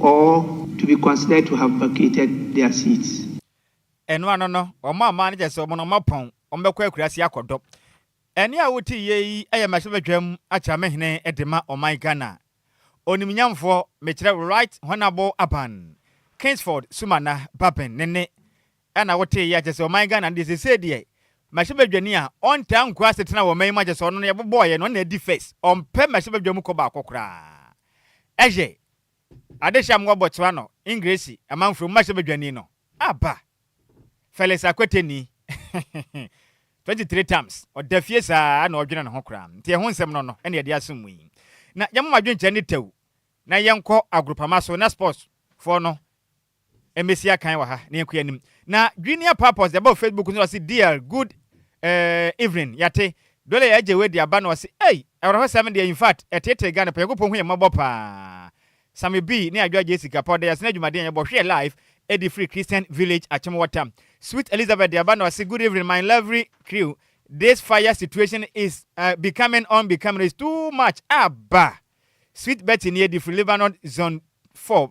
Or to be considered to have vacated their seats. Ɛno ano no, wɔn a wɔn kyerɛ sɛ wɔn no wɔapɔn, wɔbɛkɔ akuraase akɔdɔ. Ɛnne a wote yie yi yɛ mmarahyɛbadwam akyerɛmhene de ma ɔman Ghana. Onimnyamfoɔ, mekyerɛ Right Honourable Aban Kingsford Sumana Baben ne nne Ɛna wotee yɛ akyɛsɛ ɔman Ghana no deɛ sesei deɛ Mmrahyɛ badwani a ɔntaa nkura asetena wɔ ɔman yi mu akyɛsɛ ɔno no yɛbobɔɔ yɛ no ɔno na adi first ɔmpɛ mmrahyɛ badwa mu kɔ baakɔ koraa ɛyɛ adehye a mowɔ Botswano Engiresi amanfro mu mmrahyɛ badwani no aba Felix Akweteni 23 terms ɔda fie saa na ɔdwene ne ho koraa nti ɛho nsɛm no no ɛna yɛde asom mu yi na yɛmoma adwenkyerɛ ne tɛw na yɛnkɔ agorupama so na sports foɔ no Mmesi akan wɔ ha na yɛnkɔ yɛn anim. Na Junior Papos de aba wɔ Facebook so na ɔse dear good eh evening yɛate Dole yɛ agye wei de aba na ɔse ei awerɛhosɛm deɛ infact ɛtetee Ghana paa Nyankopɔn hu yɛn mmɔbɔ paa Sammy B ne Adwoa Gyei sika pa ɔda yɛase na dwumadie a yɛbɔ hwɛ yɛ live ɛdi firi Christian Village Akyem Water Sweet Elizabeth de aba na ɔse good evening my lovely crew this fire situation is eh becoming on becoming is too much aba Sweet Betty nie di firi Lebanon zone 4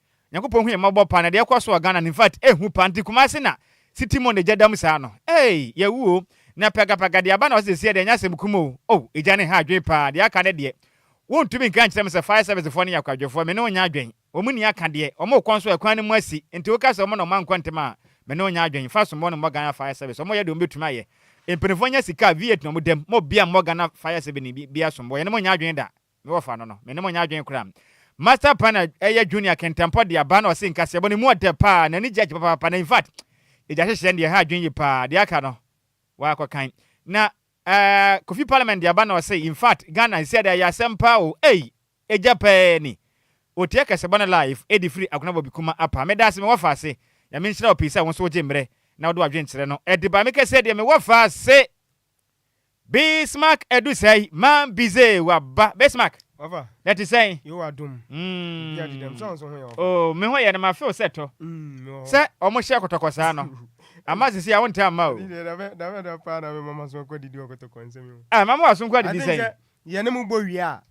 Nyankopɔn hu yɛn mmɔbɔ paa na deɛ ɛkɔ so wɔ Ghana no infact ɛhu paa nti Kumasi na city mu na egya dam saa no eii yɛawu o na pɛgapɛga deɛ aba na ɔse sesiɛ deɛ ɛnyɛ asɛm kum o oh egya no ha adwen paa deɛ aka no deɛ wontumi nka nkyerɛ me sɛ fire service foɔ no yɛ akwadwofoɔ me ne wo nyɛ adwen wɔn nni aka deɛ wɔn rekɔ nso ɛkwan no mu asi nti woka sɛ wɔn na wɔn ankɔ ntem a me ne wo nyɛ adwen fa somɔɔ no mmɔ Ghana fire service wɔn yɛ deɛ wɔn bɛtumi ayɛ mpaninfoɔ nya sika a V8 na wɔn dam mo bia mmɔ Ghana fire service no bia somɔɔ yɛne mo nyɛ adwen da Me wɔfa no no, me ne mo nyɛ adwene koraa. Master pa na ɛyɛ Junior kɛntɛmpɔ de aba na ɔse nkaseɛbɔ no emu ɔdɛ paa, n'ani gye agye papaapa na infact egya hyehyeɛ no deɛ ɛha adwene yie paa, deɛ aka no wakɔ kan. Na eh Kofi Parliament de aba na ɔse infact Ghana sisi ada ɛyɛ asɛm paa o ei egya pɛɛ ni, otie akasɛbɔ no live edi firi Agona Bobby Kuma apa. Medaase me wɔfa ase, Nyame nhyira wo pii sɛ wo nso wogye mmerɛ na wode w'adwene kyerɛ no ɛde ba me kɛseɛ deɛ me wɔfa ase Bismarck adu sɛe ma Bizet waba. Bismarck, na ɛte sɛn? Mm. Oh, me ho yɛ no ma feel sɛ tɔ. Sɛ ɔmo hyɛ kɔtɔkɔ saa no. Ama sisi a wontaa mma o. Ah, ma mo wɔ aso nko adidi sɛn?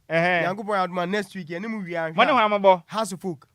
Ɛhɛn. Mo ne hwan mo bɔ?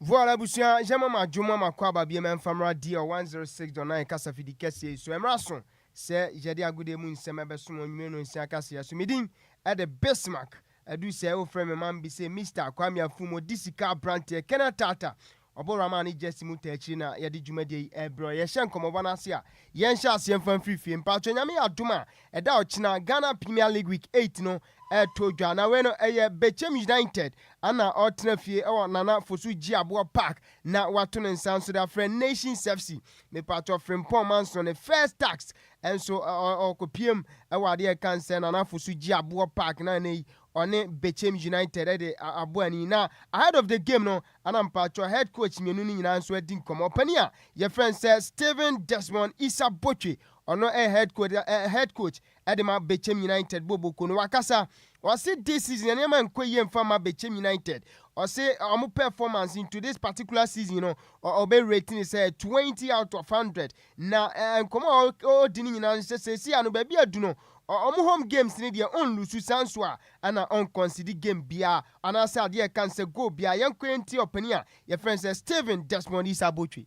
Voal abusua yɛma mo adwom ama kwaaba biem ɛmfa mmra DL 106.9 kasafidi kɛseɛ yi so ɛmmra so sɛ yɛde agodie mu nsɛm ɛbɛsom onwumire nonsia kaseɛ so medin ɛde Bismark adu sɛ wofrɛ me ma mbise Mister Kwame Afum odi sika abranteɛ kɛnɛ tata ɔbɔ Rahman ne Jesse mu ta akyiri na yɛde dwumadie yi ɛrebrɛ yɛhyɛ nkɔmmɔbɔ no ase a yɛnhyɛ aseɛ mfa mfiri fie mpaatwɔ Nyame yɛ adom a ɛda ɔkyena Ghana Premier League week eight no ɛɛtɔ dwa na wei no ɛyɛ Bechem United ɛna ɔɔtena fie ɛwɔ Nana Fosu Gyiaboɔ Park na wato ne nsa nso de afrɛ Nations FC mepaatɔ Frimpong Mansoh ne First Tax ɛnso ɔɔkɔpiem ɛwɔ adeɛ ɛka nsɛ Nana Fosu Gyiaboɔ Park na ɛnɛ yi ɔne Bechem United ɛde abɔ ani na ahead of the game no ɛna mepaatɔ head coach mmienu no nyinaa nso adi nkɔmɔ ɔpanin a yɛfrɛ no sɛ Steven Desmond Issa Botwe ɔno ɛyɛ head coach head coach Ɛde ma Bechem United bɔ boko no wakasa ɔse this season nneɛma nkɔ yie mfa mma Bechem United ɔse wɔn performance into this particular season no ɔbɛ rate ne sɛ 20 out of 100 na nkɔmɔ a ɔdi ne nyinaa nhyɛ seesei ano baabi adu no wɔn home games ne deɛ ɔnlusu saa nso a ɛna ɔnkɔnsidi game biara anaasɛ adeɛ ɛka ne sɛ goal biara yɛnkɔ yɛntie ɔpanin a yɛfrɛ no sɛ Steven Desmond Isa Botwe.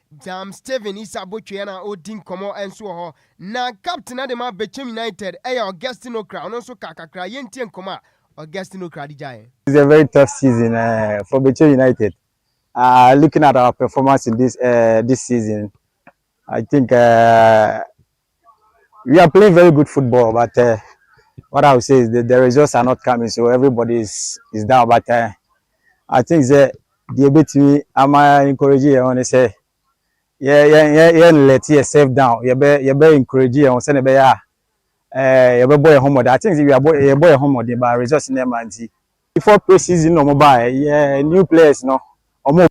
Jam Steven Issa Botwe na ɔredi nkɔmmɔ nso wɔ hɔ. Na captain de ma Bechem United yɛ Augustine Ocra, ɔno nso ka kakra. Yɛntie nkɔmmɔ a Augustine Ocra de gyaeɛ. It's a very tough season uh, for Bechem United. Uh, looking at our performance in this uh, this season, I think uh, We are playing very good football but uh, what I will say is that the results are not coming so everybody is, is down but uh, I think sɛ deɛ ɛbɛtumi ama encourage yɛn ho ne sɛ yɛn let yourself down yɛbɛ yɛbɛ encourage yɛn ho sɛnea ɛbɛyɛ a eh, yɛbɛbɔ yɛn ho mmɔden I think sɛ yɛbɔ yɛn ho mmɔden but results no ɛma nti before pre season na wɔn baeɛ yɛ new players no wɔn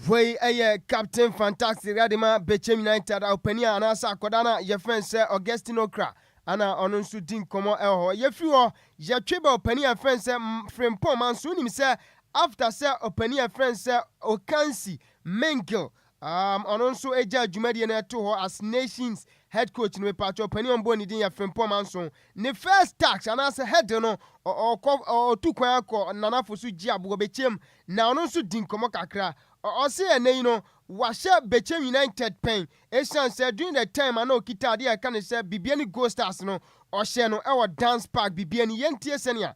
Wei yɛ Captain Fantastic Radema Bechem United a ɔpanin a anaasɛ akɔda no a yɛfɛn sɛ Augustine Okra ana ɔno nso di nkɔmmɔ ɛwɔ hɔ. Yɛfiri hɔ, yɛtwe bɛ ɔpanin a yɛfɛn sɛ Frimpong Manso. Wonim sɛ after sɛ ɔpanin a yɛfɛn sɛ Okansi Mingil Um ɔno nso gyaa dwumadie no ɛto hɔ as nations head coach no mepatwɛ ɔpanin ɔmbɔ ne din yɛ Frimpong Anson ne first tax anaasɛ head no ɔkɔ ɔtu kwan akɔ nanafo so gye aboɔ bɛkyɛm na ɔno nso di nkɔmmɔ kakra ɔse ɛnɛ yi no wahyɛ bɛkyɛm United pɛn ɛsiane sɛ during the time a na ɔkita adeɛ a ɛka ne sɛ bibia ne goal stars no ɔhyɛ no ɛwɔ dance park bibia ni yɛntie sɛnea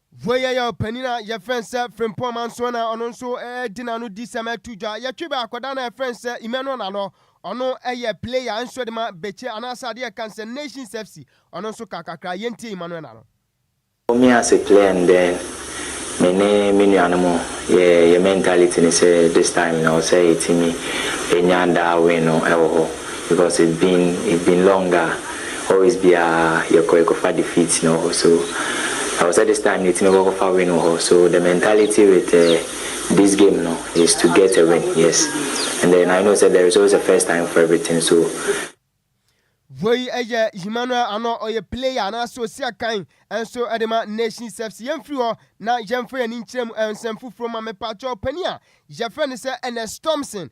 Voi yɛ yɛn ɔpanyin a yɛfrɛ no sɛ Frimpong Mansoa na ɔno nso di n'ano di sɛ mɛto dwa. Yɛtwe bɛn akwadaa no a yɛfrɛ no sɛ Emmanuel Nanɔ, ɔno yɛ player nso de ma Bɛkyɛ anaasɛ adeɛ yɛka no sɛ Nations FC, ɔno nso ka kakra. Yɛntie Emmanuel Nanɔ. Mommie ase player no dɛn? Me ne me nuanom yɛ yɛ mentality ne sɛ this time no ɛwɔ sɛ yɛtumi nya daa win no wɔ hɔ because it's been it's been long a. Always biaa yɛkɔ yɛkɔfa defeat na ɔhɔ so na ɔsɛ this time yɛtumi kɔ kɔfa win wɔ hɔ so the mentality with this game no is to get a win yes and then I know sɛ there is always a first time for everything so Voi yɛ Emmanuel Anor, ɔyɛ player anaasɛ osi akan nso de ma Nations FC. Yɛmfiri hɔ na yɛmfa yɛn ani nkyerɛ mu nsɛm foforɔ mu ma me patrɔ. Panin a yɛfrɛ no sɛ Ernest Thomson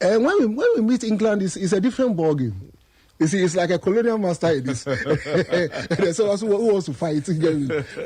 And when we when we meet England, it's, it's a different ball game. You see, it's like a colonial master in this. There's someone who wants to fight,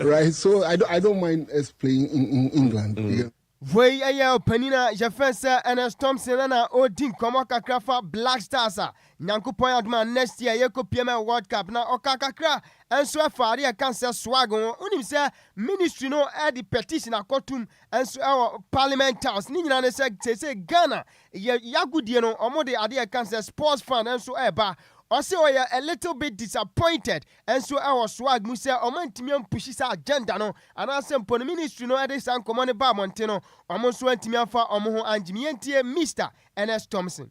right? So I don't, I don't mind us playing in, in England. Mm. Yeah. Voi ɛyɛ ɔpanin a yɛfrɛ sɛ Ernest Thompson ɛna ɔredi nkɔmmɔ kakra fa Black Stars a Nyankopɔn adoma next year yɛkɔ PML World Cup na ɔka kakra nso ɛfa adeɛ ɛka sɛ swag ho wonim sɛ ministry no ɛde petition akɔtum nso ɛwɔ parliament house, ne nyinaa ne sɛ seesei Ghana yɛ yagodie no ɔmo de adeɛ ɛka sɛ sports fund nso ɛɛba, ɔse ɔyɛ a little bit disappointed nso ɛwɔ swag mu sɛ ɔmo antumi ampushi saa agenda no anaasɛ mpo no ministry no ɛde saa nkɔmɔ no baa abɔnten no ɔmo nso antumi amfa ɔmo ho angye mu, yɛntie Mister Ernest Thompson.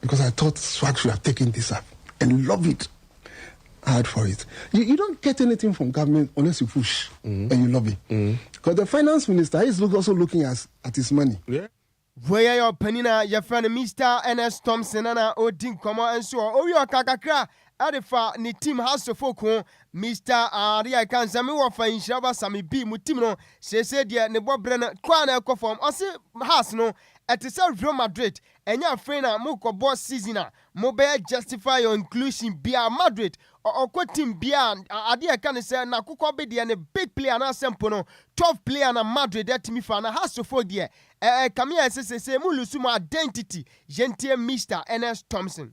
because I thought swag should have taken this up and love it hard for it. You, you don't get anything from government unless you push mm. and you lobby. Mm. Because the finance minister is look, also looking as, at his money. Yeah. Voya yɛ ɔpanin a yɛfrɛ no Mr. Ernest Thompson na ɔdi nkɔmmɔ nso ɔ owi ɔka kakra ɛde fa ne tim hasofo ko Mr. Ade a ɛka nsɛm wɔ fa nhyira ba same bi mu tim no seesei deɛ ne bɔberɛ no kɔ a na ɛkɔ fam ɔse has no ɛte sɛ Real Madrid Ɛnyɛ afei na mo kɔbɔ season a mo bɛyɛ justify your inclusion biaa Madrid ɔ ɔkɔ team biaa a adeɛ a ɛka ne sɛ na kokɔ be deɛ ne big player anaasɛ mpo no twelve player na Madrid atumi fa na Hasso fo deɛ ɛ ɛkame ayɛ sɛ seisei mo lose mo identity yɛntie Mister Ernest Thompson.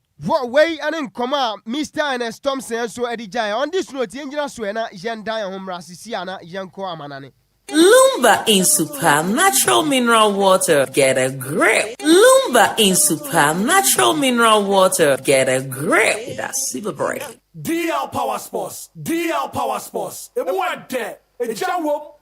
Wɔ wei ne nkɔmmɔ a Mister Ernest Thompson nso de gyaeɛ, ɔno de suro nti yɛngyina soɛ na yɛnda yɛn ho mmra sisi a na yɛnkɔ amanane. Lumba nsu pa natural mineral water get a grip Lumba nsu pa natural mineral water get a grip da si bebree. DL Power Sports DL Power Sports, emu yɛ dɛ, egya wom,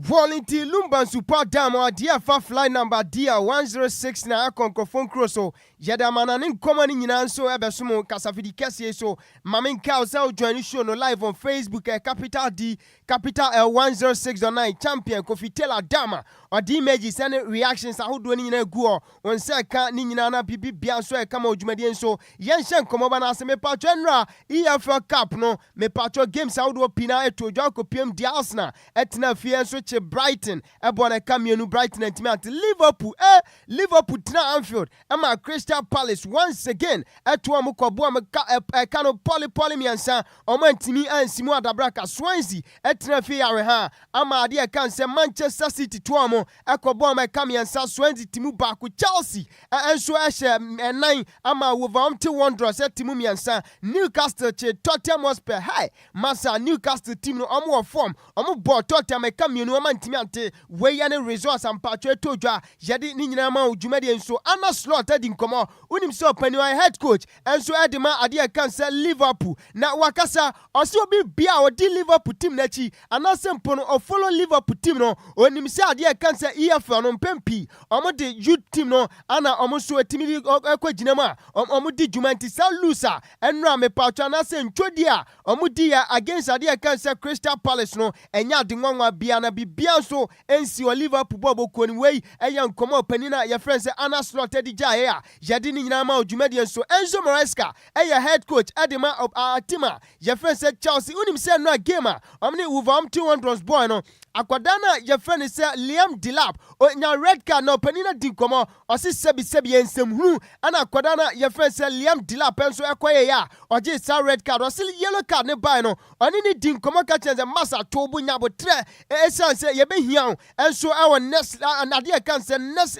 Volunteer Lumba Nsu Pa Dam a ɔde afa Flight Number DR-1069 akɔ nkurɔfoɔ nkuro so, yɛde amana ne nkɔmmɔ no nyinaa nso ɛbɛso mo kasafidi kɛseɛ yi so. Ma me nkae wo sɛ wo join show no live on Facebook ɛyɛ Capital D, Capital L 106.9 Champion Kofi Taylor Dam a ɔde images ɛne reactions ahodoɔ no nyinaa agu hɔ. Wo nsa ɛka ne nyinaa na biribi biara nso ɛka ma wo dwumadie nso. Yɛnhyɛ nkɔmmɔba no ase mepatwɔ ɛnora EFL cup no mepatwɔ games ahodoɔ pii na ɛtoo dwa kɔpiam deɛ Arsenal ɛtenaa fie ɛnso kye Brighton ɛbɔɔ no ɛka mmienu Brighton antumi ante Liverpool eh Liverpool tenaa Anfield ɛmaa Crystal Palace once again ɛto wɔn kɔ boɔ wɔn ka ɛp ɛka no pɔli pɔli mmiɛnsa wɔn antumi ansi mu adabraka Swansea ɛtenaa fie yarehaa ama adeɛ ɛka nsɛm Manchester City to wɔn Ɛkɔbɔɔ ma ɛka mmiɛnsa soɛ dze timu baako Chelsea nso hyɛ nnan ama Wolverhampton Wanderers timu mmiɛnsa Newcastle kyee Tottenham Hotspur Hi Masa Newcastle team no ɔmo wɔ form ɔmo bɔɔ Tottenham ɛka mmienu ɔmo antumi ante wei yɛ ne results mpaatwo ɛtɔ dwa yɛde ne nyinaa ma wo dwumadie nso Arne Slot adi nkɔmɔ wonim sɛ ɔpanin ɔyɛ head coach nso de ma ade a ɛka no sɛ Liverpool na wakasa. Ɔse obi bia a ɔdi Liverpool team no akyi anaasɛ mpo no ɔfollow Liverpool team no, ɔnim sɛ adeɛ a ɛka no sɛ EFL no mpɛn pii ɔmo de youth team no ana ɔmo nso ɛtumi de ɛkɔ gyina mu a ɔmo di dwuma nti saa lose a ɛnora mepaatwa anaasɛ ntwodie a ɔmo di yɛ against adeɛ a ɛka no sɛ Crystal Palace no ɛnyɛ ade nwanwa bia na bibia nso nsi wɔ Liverpool bɔɔlbɔ kuo no mu. Wei ɛyɛ nkɔmɔ a ɔpanin a yɛfrɛ no sɛ Arne Slot de gyaeɛ a Yɛde ne nyinaa ma wo dwumadie nso. Enzo Maresca yɛ head coach de ma a team a yɛfrɛ no sɛ Chelsea. Wonim sɛ nnora game a wɔn ne Wolverhampton Wanderers bɔɔe no, akwadaa no a yɛfrɛ no sɛ Liam Delap ɔnya red card na ɔpanin no di nkɔmmɔ, ɔse sɛbi sɛbi yɛ nsɛm hunu na akwadaa no a yɛfrɛ no sɛ Liam Delap nso kɔeɛɛ a ɔgyee saa red card. Ɔse yellow card no baeɛ no ɔne no di nkɔmmɔ ka kyerɛ no sɛ Masa to wo bo nya aboterɛ ɛsiane sɛ yɛbɛhia wo nso wɔ next adeɛ a ɛka no sɛ next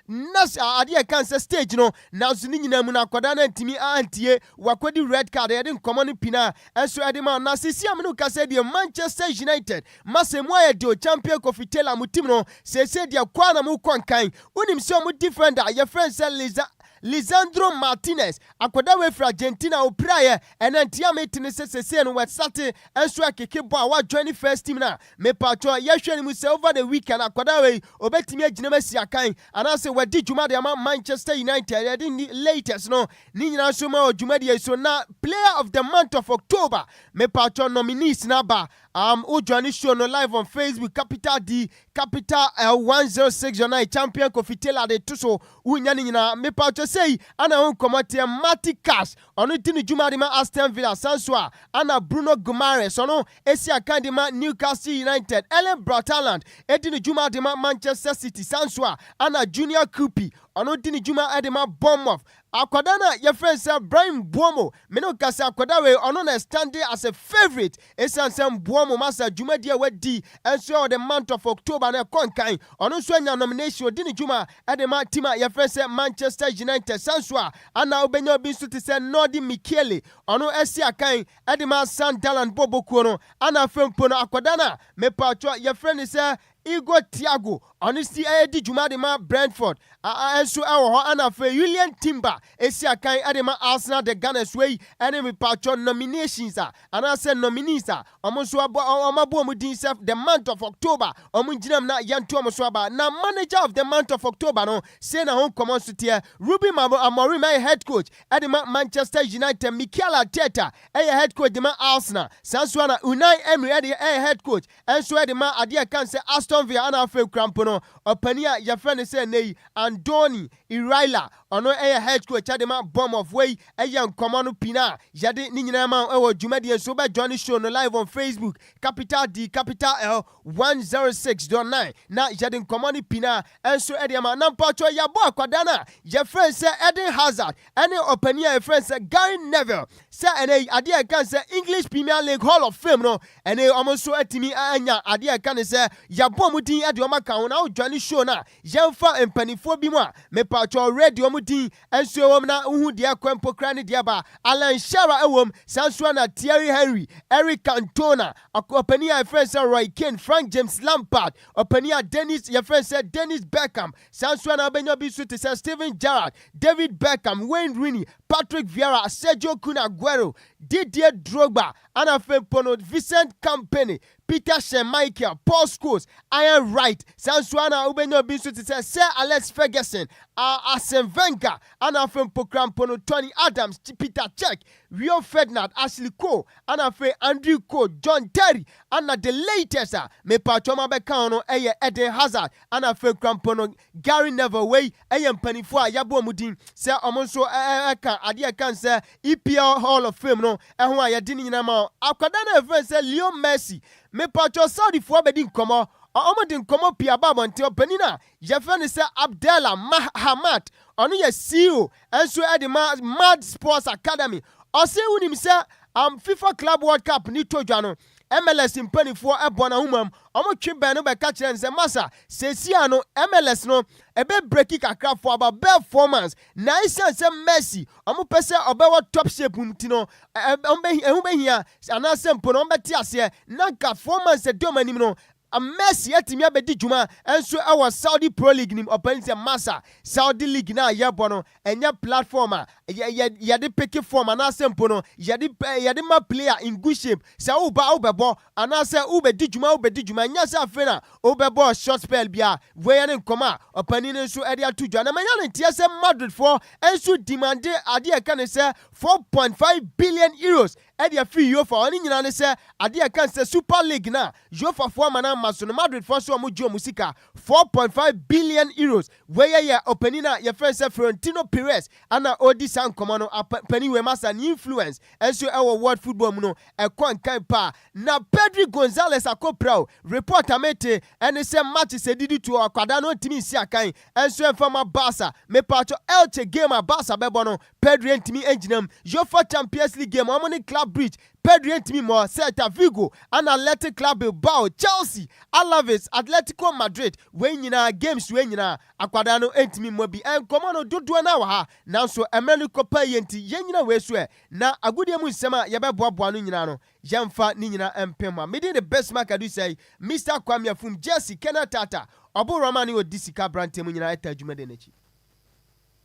Nurse a adeɛ ɛka nsɛ stage no nanso ne nyinaa mu no akwadaa no antumi antie wakɔdi red card yɛde nkɔmmɔ no pina nso ɛde ma na seesei a me ne wo kasa yi deɛ Manchester United masa mu ayɛ deɛ Champion Kofi Taylor mo team no seesei deɛ kɔ a na mokɔ nkan wonim sɛ ɔmo defender a yɛfrɛ no sɛ Lisa Lisandro Martinez akwadaa wei firi Argentina ɔpiraeɛ ɛnɛ nti a mete ne sɛ seesei no wasate nso ɛkeke bɔ a wa join first team no a Mepakyɛw, yɛhwɛ no mu sɛ over the weekend akwadaa wei obetumi agyina mu asi akan anaasɛ wadi dwuma de ama Manchester United, yɛde ne latest no ne nyinaa nso ma wɔ dwumadie yi so, na player of the month of October mepakyɛw nominees no aba, um wo joine show no live on Facebook Capital D Capital L 106.9 Champion Kofi Taylor de to so, wo nya ne nyinaa mepakyɛw sei ana ɛho nkɔmmɔ teɛ Marty Cash. Ɔno di ne dwuma de ma Aston Villa san so a ana Bruno Guimaraes, ɔno si akan de ma Newcastle United, Erling Braut Haaland di ne dwuma de ma Manchester City san so a ana Junior Krupi, ɔno di ne dwuma de ma Bournemouth. Akwadaa no a yɛfrɛ no sɛ Bryan Mbeumo, me ne wo kasa akwadaa wei ɔno na ɛstande as a favourite Esiane sɛ mboa mmom asa dwumadi a wadi nso a ɔde Month of October no kɔ nkan, ɔno nso anya nomination odi ne dwuma de ma team a yɛfrɛ sɛ Manchester United saa nso a ana wobenya obi nso te sɛ Nordi Mikiele ɔno asi akan de ma Sunderland bɔɔlbɔ kuo no ana afei mpo no akwadaa no a mepawtwɔ yɛfrɛ no sɛ Igor Thiago, ɔno nso redi dwuma de ma Brentford, nso wɔ hɔ ɛna afei Julian Timber si akan de ma Arsenal de Ghana so yi ne mepaatwɔ nominations a anaasɛ nominees a wɔn nso abɔ wɔn abɔ wɔn din sɛ the month of October wɔn ngyinam na yɛnto wɔn so aba na manager of the month of October no sei na ho nkɔmmɔ nso teɛ Ruben Amorim yɛ head coach de ma Manchester United Mikel Arteta yɛ head coach de ma Arsenal saa nso na Unai Emery yɛ head coach Nso ɛde ma adeɛ a ɛka no sɛ Aston Villa ana afei kura mpo no ɔpanin a yɛfrɛ no sɛ nnɛ yi Andoni Iraila, ɔno yɛ head coach ɛde ma Bournemouth. Wei yɛ nkɔmmɔ no pii no a yɛde ne nyinaa ma wo wɔ dwumadie nso wobɛ join show no live on Facebook, Capital D Capital L 106.9 na yɛde nkɔmmɔ no pii no a Ɛnso ɛdeɛ ma na mpaatwɔ yɛabɔ akwadaa no a yɛfrɛ no sɛ Eden Hazard ɛne ɔpanin a yɛfrɛ no sɛ Gary Neville sɛ ɛnɛ yi adeɛ a yɛka no sɛ English Premier League Hall of Fame no ɛnɛ yi wɔn nso atumi anya adeɛ a yɛka no sɛ yɛabɔ wɔn din ɛde wɔn aka ho na wodwane show no a yɛmfa mpaninfoɔ bi mu a mepaatwɔ read wɔn din ɛnso ɛwom na wohu deɛ ɛkɔ mpo koraa ne deɛ ɛba Alan Shearer ɛwom saa nso ara na Thierry Henry Eric Cantona ɔpanin a yɛfrɛ no sɛ Roy Keane Frank James Lampard Ɔpanin a Dennis, yɛfrɛ no sɛ Dennis Bergkamp, saa nso a na abɛnya bi nso te sɛ Steven Gerrard, David Beckham, Wayne Rooney, Patrick Vieira, Sergio Kun Aguero, Didier Drogba, ɛna afei mpo no Vincent Kompany, Peter Schmeichel, Paul Scholes, Ian Wright, saa nso a na wobɛnya bi nso te sɛ Sir Alex Ferguson, Arsene Wenger, ɛna afei mpo koraa mpo no Tony Adams, Peter Cech, Wio Ferdinard Ashley Cole ana afei Andrew Cole John Terry ana the latest a mepaatwɔ ma bɛka ho no yɛ Eden Hazard ana afei kora mpo no Gary Neville wei yɛ mpaninfoɔ a yɛabɔ wɔn din sɛ wɔn nso ka adeɛ a ɛka nsɛ EPL Hall of Fame no ho a yɛde ne nyinaa ma wɔn akwadaa no a yɛfrɛ nsɛ Leo Messi mepaatwɔ Saudifoɔ abɛdi nkɔmmɔ wɔn de nkɔmmɔ pii aba abɔnten ɔpanin a Yɛfrɛ no sɛ Abdella Mah Hamad. Ɔno yɛ CEO nso de ma Mad Sports Academy. Ɔse wonim sɛ am Fifa Club World Cup ne to dwa no, MLS mpaninfoɔ bɔ no ahomam. Wɔtwe bɛn no bɛka kyerɛ no sɛ Masa, seesei ara no MLS no bɛ breki kakra for about bɛɛ four months na esiane sɛ Messi wɔpɛ sɛ ɔbɛwɔ top shape nti no ɛho bɛhia anaasɛ mpo no wɔbɛte aseɛ na nka four months ɛdi wɔn anim no Ama Messi atumi abɛdi dwuma nso wɔ Saudi Pro League no mu, ɔpae mu sɛ, Masa, Saudi league no a yɛbɔ no, ɛnyɛ platform a yɛde peke form anaasɛ mpo no yɛde ma player in good shape, sɛ woreba a wobɛbɔ anaasɛ worebɛdi dwuma a wobɛdi dwuma, ɛnyɛ sɛ afei na wobɛbɔ short spell biara. Wei ne nkɔmmɔ a ɔpanin no nso de ato dwa na manya no nteɛ sɛ Madridfoɔ nso demande adeɛ a ɛka ne sɛ €4.5 billion Ɛde afiri Yofa hɔ no nyinaa ne sɛ adeɛ a ɛka no sɛ Super League no a Yofafoɔ ama no ama so no Madridfoɔ nso wɔn gye wɔn sika four point five billion Euros. Wei yɛ yɛ ɔpanin a yɛfrɛ no sɛ Florentino Perez ana ɔredi saa nkɔmmɔ no. Panin wei masa ne influence nso ɛwɔ world football mu no ɛkɔ nkan paa. Na Pedri Gonzalez akɔpira o. Report a mete ɛne sɛ matches a ɛdidi toɔ akwadaa no ɔntumi nsi akan nso ɛmfa ma Barca. Mepaakyɛw Elche game a Barca bɛbɔ no Pedri antumi angyina mu. Uefa Champions League game a wɔn ne Club Brugge, Pedri antumi mmɔ. Celta Vigo ɛna Athletic Club Bilbao, Chelsea, Alaves, Atletico Madrid, wei nyinaa, games wei nyinaa, akwadaa no antumi mmɔ bi. Nkɔmmɔ no dodoɔ no ara wɔ ha, nanso mmerɛ no kɔ paa yie nti, yɛnnyina wei so ɛ. Na agodie mu nsɛm a yɛbɛboaboa ano nyinaa no, yɛmfa ne nyinaa mpem ha. Me din de Bismarck Adusei, Mister Kwame Afum, Jersey, Kenneth Tata, Ɔbo Roma ne ɔdi sika aberanteɛ mu nyinaa ɛtaa adwumaden no akyi.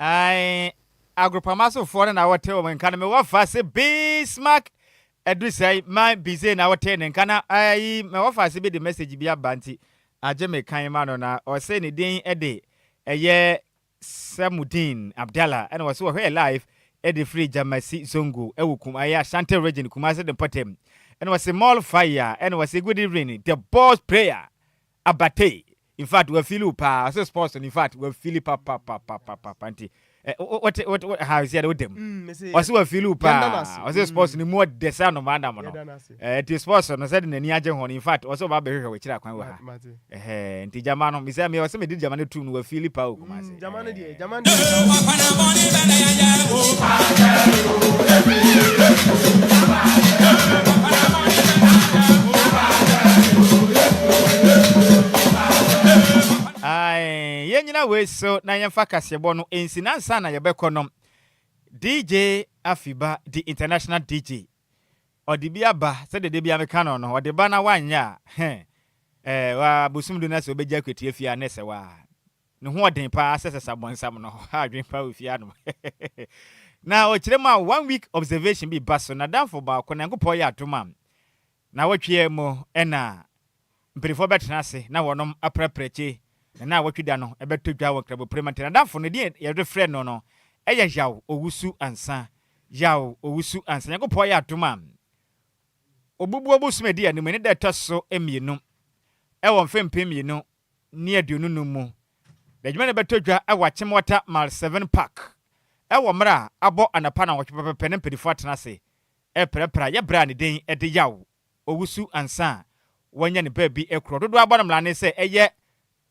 Ae agorpama so foɔ no na wɔtee wɔn nka no mewɔ fa se Bismarck adu sɛe ma Bizee na wotee ne nka na ae mewɔ fa se bi de message bi aba nti agye me kan ma no na ɔse ne din de ɛyɛ Samudeen Abdalla ɛna wɔse wɔhwɛɛ live ɛde firi Jamasi Zongo ɛwɔ kum ae Ashanti region Kumasi de mpɔtam ɛna wɔse Mall Fire ɛna wɔse good evening the boss prayer Abatey in fact wa fili wo paa ɔse sports no in fact wa fili papapapapapa nti eh, wo- wote wote wo- ha ɔsi ɛde wo dɛm Mm, mese yɛ- ɔse wa fili wo yɛda no paa ase. ɔse sports Mm. no mu ɔdɛ sɛ anomaa nam no Yɛda no ase. Eh, nti sports no sɛde n'ani agye ho no in fact ɔse ɔba bɛhwehwɛ wɔ akyiri akwan wɔ ha Ma- mate. Ɛhɛɛ, nti gyama no mesɛ me ɔse mede gyama no tum no wa fili paa wɔ Kumase. Jama no deɛ, jama no deɛ. yɛnyina wei so na yɛmfa kaseɛbɔ no ɛnsi na nsa na yɛbɛkɔ no dj afiba the international dj ɔde bi aba sɛdeɛ de bia meka no no ɔde ba na wanyɛ a bosom du no sɛ wobɛgya akwatia fie a na ɛsɛ waa Ne ho ɔden paa sɛ sesa bɔnsam no ho adwen paa wɔ fie anom. Na ɔkyerɛ mu a one week observation bi ba so nadamfo baako Nyankopɔn yɛ adom a naawɔtweɛ mu na mpanifoɔ bɛtena ase na wɔnom apra prɛkye na naawɔtwe da no ɛbɛtɔ dwa wɔ Nkraboprema nti nadamfo no din yɛde frɛ no no yɛ Yaw Owusu Ansa Yaw Owusu Ansa Nyankopɔn yɛ adom a ɔbubuo bosom a ɛdi anim ɛne da ɛtɔ so mmienu ɛwɔ mfe mpem mmienu ne aduonu nnum mu. N'adwuma no bɛtɔ dwa wɔ Akyem Water Mile Seven Park wɔ mmerɛ a abɔ anɔpa nnawɔtwe pɛpɛpɛ na mpaninfoɔ atena ase reprapra yɛ berɛ a ne den de yaw owusu ansa a wɔanya ne baabi korɔ dodoɔ abɔ no mmrane sɛ ɛyɛ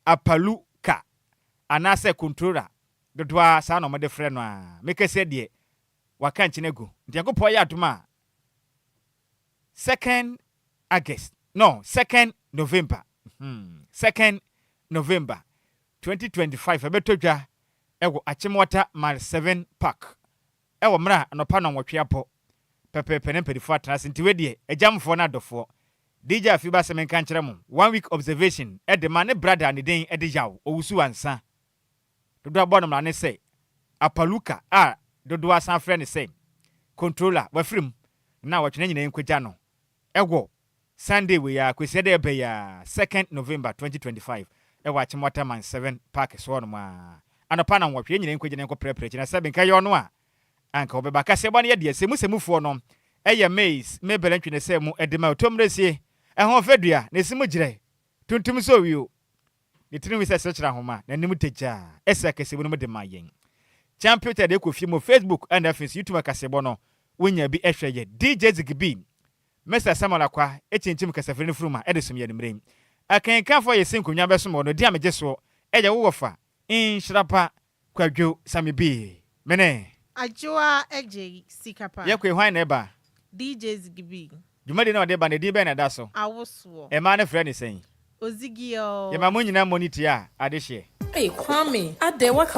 Apalu Ka anaasɛ Kontrora dodoɔ ara saa na wɔde frɛ no a mekɛseɛ deɛ waka nkyene agu. Nti Nyankopɔn yɛ adom a. Second August no second November hmm second November twenty twenty five ɛbɛtɔ dwa ɛwɔ Akyem Wata Mile seven Park ɛwɔ mmerɛ a anɔpa nnɔnwɔtwe abɔ pɛpɛɛpɛ na mpanifoɔ atena ase nti wei deɛ agyamfoɔ ne adɔfoɔ DJ Afiba sɛ menka nkyerɛ mo one week observation ɛde ma ne brada a ne den ɛde yaw ɔwusu ansa Dodoɔ bɔ no mmara ne sɛ, Apaluka a dodoɔ asan frɛ no sɛ, Controller, wafiri mu na wɔtwe ne nyinaa nkɔgya no wɔ Sunday wei ara, Kwasiɛ da ɛreba yi ara, second November twenty twenty five, wɔ Akyem Waterman Seven Park so hɔnom ara. Anɔpa nnɔnwɔtwe, yɛn nyinaa nkɔgyina nkɔprɛprɛ akyi na sɛbe nka ɛyɛ ɔno a, anka ɔbɛba. Akaseɛbɔ no yɛ deɛ sɛ mu sɛ mufoɔ no yɛ maize, mebel ntwe ne sɛ mu de ma Otomresie, ɛho fɛ dua, na ɛsi mu gyerɛ tuntum sɛ owio, Ne tirim wi sɛ serekyerɛ ahoma, n'anim da gya, ɛsɛ kasabu no mu de ma yɛn. Kyanpyoter de kɔ fie mu, Facebook ɛna afei nso YouTube akasebɔ no, wonya bi hwɛ yɛ. DJ Zigibee, Mister Samuel Akwa kyinkyim kasafiri no funuma de som yɛn mmerɛ yi. Akenkanfoɔ a yɛsi nkonnwa bɛsom wɔn no di a megye soɔ, ɛyɛ wo wɔfa. Nhyira pa Kwadwo same bii mene. Adwoa agye sika pa. Yɛkoe hwan na ɛba. DJ zigi bii. Dwumadie no a ɔde ba no edin bɛn na ɛda so. Awosoɔ. Mmaa no frɛ no sɛn. Ozigi oo. Yɛma mo nyinaa mmɔ ne ti a ade hyeɛ. Ei Kwame adɛn waka